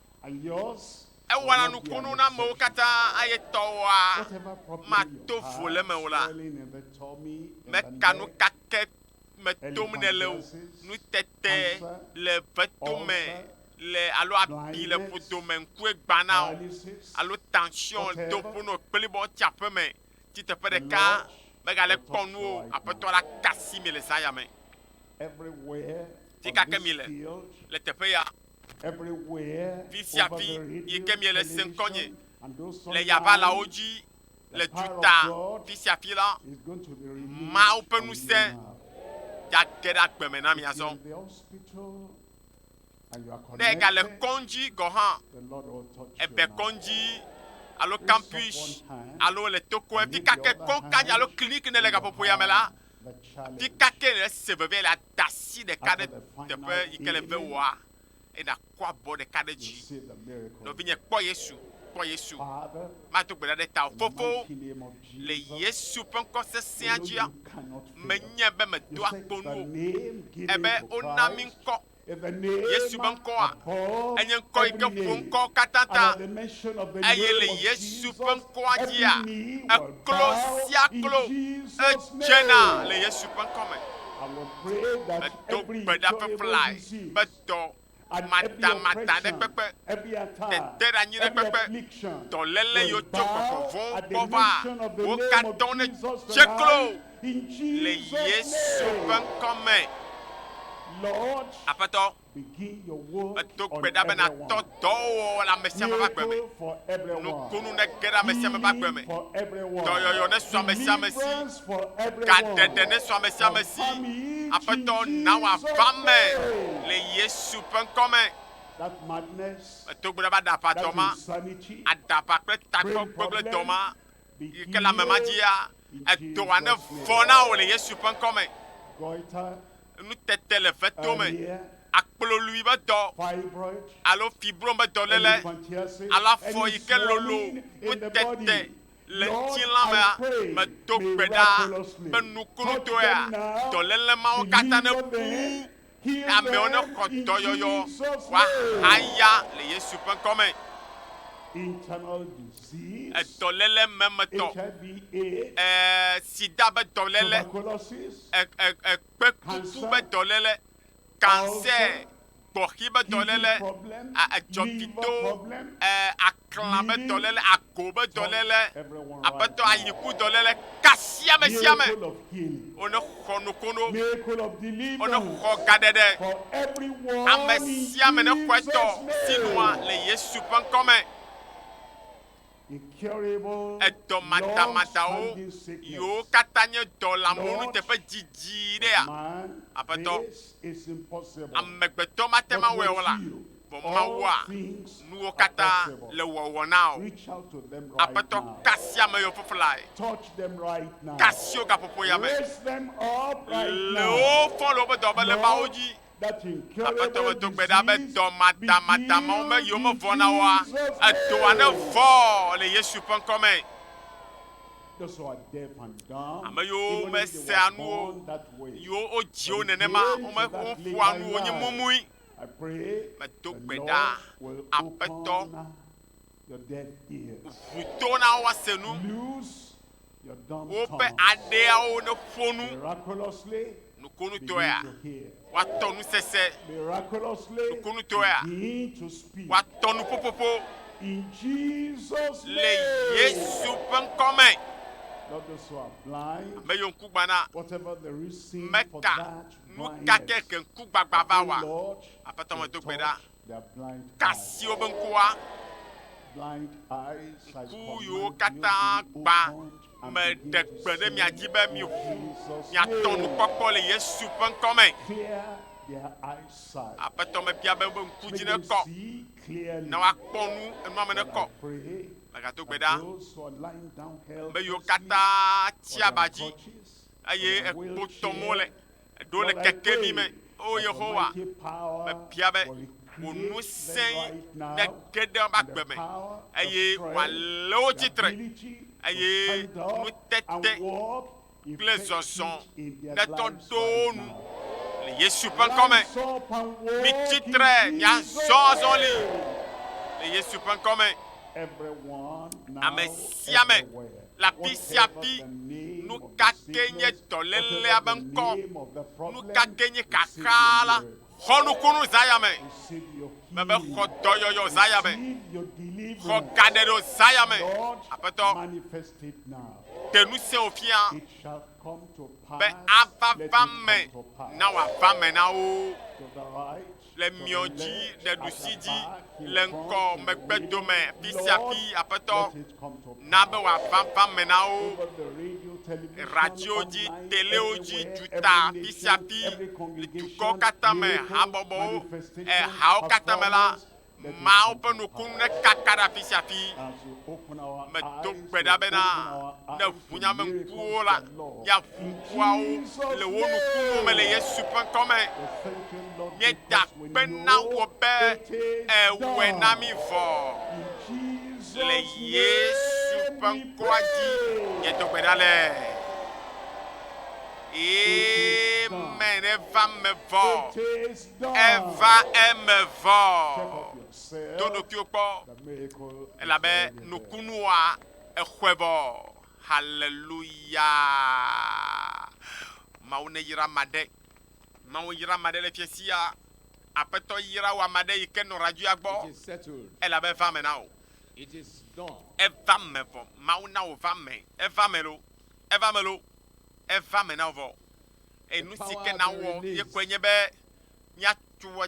Ewɔna nukunu
na
amewo
katã eye
tɔwɔa
mato
vo le eme
o
la meka nu kake me
tom nèle o. Nutete le vetome le alo abi le ƒodome ŋkue gbãna o alo taŋsiɔn do ƒo nɔ kplibɔ tsi aƒe me tsi teƒe ɖeka megale kpɔ nu o. Aƒetɔ la ka asi mi le zã ya me.
Tsi kake
mi le
le
teƒe ya.
Vi sia vi
yi ke miele se
ŋkɔnye
le
yabalawo dzi le
duta fi sia fi la,
Mawu ƒe ŋusẽ gage ɖe
agbe me na mi azɔ.
Ne egale kɔŋdzi
gɔ̃ hã,
ebe kɔŋdzi
alo kampus alo le
tokoe fi
kake kɔŋkadzi
alo
kliniki
ne
le gaƒoƒoya
me
la, Ti
ka ke nèle se
vevie le ada asi ɖeka ɖe teƒe yi
ke le ve wòa,
eye nàkɔ abɔ ɖeka ɖe dzi. Nɔvinye,
kpɔ Yesu,
kpɔ Yesu. Mado
gbe ɖa ɖe tawò,
Fofo, le
Yesu
ƒe ŋkɔ sesẽa dzia,
menyae be medoa
kpo nu o, ebe
wona mí
ŋkɔ Yesu
ƒe ŋkɔa,
enye ŋkɔ
yi ke ƒo
ŋkɔ katã
ta, eye le Yesu
ƒe
ŋkɔa
dzia,
eklo sia
klo edzena
le
Yesu ƒe ŋkɔ me.
Medo gbe ɖa
ƒeƒlae
be
dɔ matamata
ɖe
kpekpe,
teteɖeanyi ɖe kpekpe,
dɔléle
yiwo tso
gbɔgbɔ vɔ̃wo gbɔ
vaa, wo
katã nedze klo
Le Yesu ƒe ŋkɔ
me.
Aƒetɔ, medo gbe ɖa be nàtɔ
dɔwɔwɔ le
amesiame
ƒe agbe me.
Nukunu nege ɖe
amesiame ƒe agbe me. Dɔyɔyɔ
nesu amesiame
si.
Gaɖeɖe nesu
amesiame si. Aƒetɔ, na wòava eme le Yesu ƒe ŋkɔ me.
Medo gbe ɖa be aɖaʋadɔ
ma, aɖaʋa
kple
takpekpegbledɔ ma, yi ke le ame ma dzia, edɔa ne vɔ na wò le Yesu ƒe ŋkɔ me.
Nutete
le veto me, aklolui
be
dɔ alo
fibrom be
dɔléle alo afɔ
yi ke
lolo nutete
le ŋutilã
mea,
medo
gbe
ɖa
be
nukunutɔea
dɔléle
mawo katã
nebu
Ke amewo nexɔ
dɔyɔyɔ wòahaya le Yesu ƒe ŋkɔ me.
Edɔléle
memetɔ, e,
sida be
dɔléle, e,
e, e, kpekuku
be dɔléle, kansè, gbɔxi be dɔléle,
a, edzɔgido, e, Klã be
dɔléle, agbo be dɔléle, aƒetɔ
ayiku
dɔléle kasi ame sia ame wo
ne xɔ nokono, wo ne
xɔ
gaɖeɖe. Ame sia ame
ne xɔ
etɔ
sinua le Yesu ƒe ŋkɔ me.
Edɔ madamadawo yiwo katã nye
dɔ lãmewo nuteƒe didi ɖea? Aƒetɔ,
amegbetɔ mate
ŋu awɔe o la, vɔ Mawua nuwo katã le wɔwɔ na o.
Aƒetɔ kasia ame
yɔ
fiflae, kasio gaƒoƒo ya me, le wo fɔ
le woƒe dɔmelembawo dzi.
Aƒetɔ me
do gbe ɖa be
dɔ
madamada
mawo
me yiwo me vɔ na woa,
edɔa
ne
vɔ
le
Yesu ƒe
ŋkɔ me.
Ame yiwo me
sea nuwo,
yiwo wodziwo
nenema, wome, woƒoa nuwo nye mumui.
Medo gbe ɖa,
Aƒetɔ,
ʋu to na wo
woase nu,
woƒe aɖeawo neƒo
nu
nukonutɔea, woatɔ nu sese nukonutɔea, woatɔ nu ƒoƒoƒo le
Yesu
ƒe ŋkɔ
me.
Ame yiwo ŋku gbana, meka
Nu
ka ke
ke
ŋkugbagba
va wɔ? Aƒetɔ medo
gbe ɖa,
ka
si wobe ŋku wa, ŋku yiwo katã gbã,
meɖe
gbe ɖe
mia dzi
be
miʋu
miatɔ nukpɔkpɔ
le Yesu ƒe ŋkɔ me.
Aƒetɔ mebia be
wobe ŋku dzi nekɔ, ne
woakpɔ nu,
enua me nekɔ. Megado
gbe ɖa, ame yiwo katã tsia
ba dzi eye
ekpotɔ
mo
le
ɖo le kekeli
me. O
Yehowa, mebia
be
wò ŋusẽ nege
ɖe woƒe agbe
me
eye wòalé
wo
tsi tre,
eye nutete
kple zɔzɔ
netɔ
ɖo wo nu.
Le
Yesu ƒe
ŋkɔ me,
mitsi tre,
miazɔ
azɔli le Yesu
ƒe ŋkɔ me,
ame sia ame.
Le afi sia
afi, nu
ka
kee nye dɔlélea
be
ŋkɔ? Nu ka kee
nye
xaxaa la?
Xɔ nukunu Zaya me. Mebe
xɔ
dɔyɔyɔ Zaya
me. Xɔ
gaɖeɖo
Zaya
me. Aƒetɔ,
ɖe ŋusẽ wò
fia
be ava va
me
na
wòava
me na
wo.
le miɔ dzi ɖe
ɖusi
dzi le
ŋkɔ
megbe dome ƒi sia
ƒi
aƒetɔ
na
be wòaʋaʋã
me na wo
radiwo dzi
telewo dzi
duta
ƒi
sia ƒi dukɔ katã me
habɔbɔwo ehawo
katã me la
maawo
ƒe nukunu
nekaka
ɖe afi
sia afi
medo gbe ɖa
bena
ne ŋunyameŋkuwo la, míaʋu ŋkuawo le
wo nukunuwo
me
le Yesu ƒe ŋkɔ me.
Míeda akpe
na
wò be
èwɔe
na mí
vɔ.
Le Yesu
ƒe ŋkɔa
dzi
miedo gbe ɖa le. Amen. Eva me vɔ.
Eva eme
vɔ.
Do ɖokuiwò kpɔ elabe nukunuwoa
Exɔe vɔ. Haleluya. Mawu neyra ame aɖe. Mawu yra ame aɖe le fiẽ sia. Aƒetɔ yra wò ame aɖe yi ke nɔ radioa gbɔ. Elabe
eva me na wò. Eva me vɔ.
Mawu na wò va me. Eva me lo. Eva me lo. Eva me na wò vɔ. Enu si ke na wɔ ye kɔe nye be mia tu wɔ.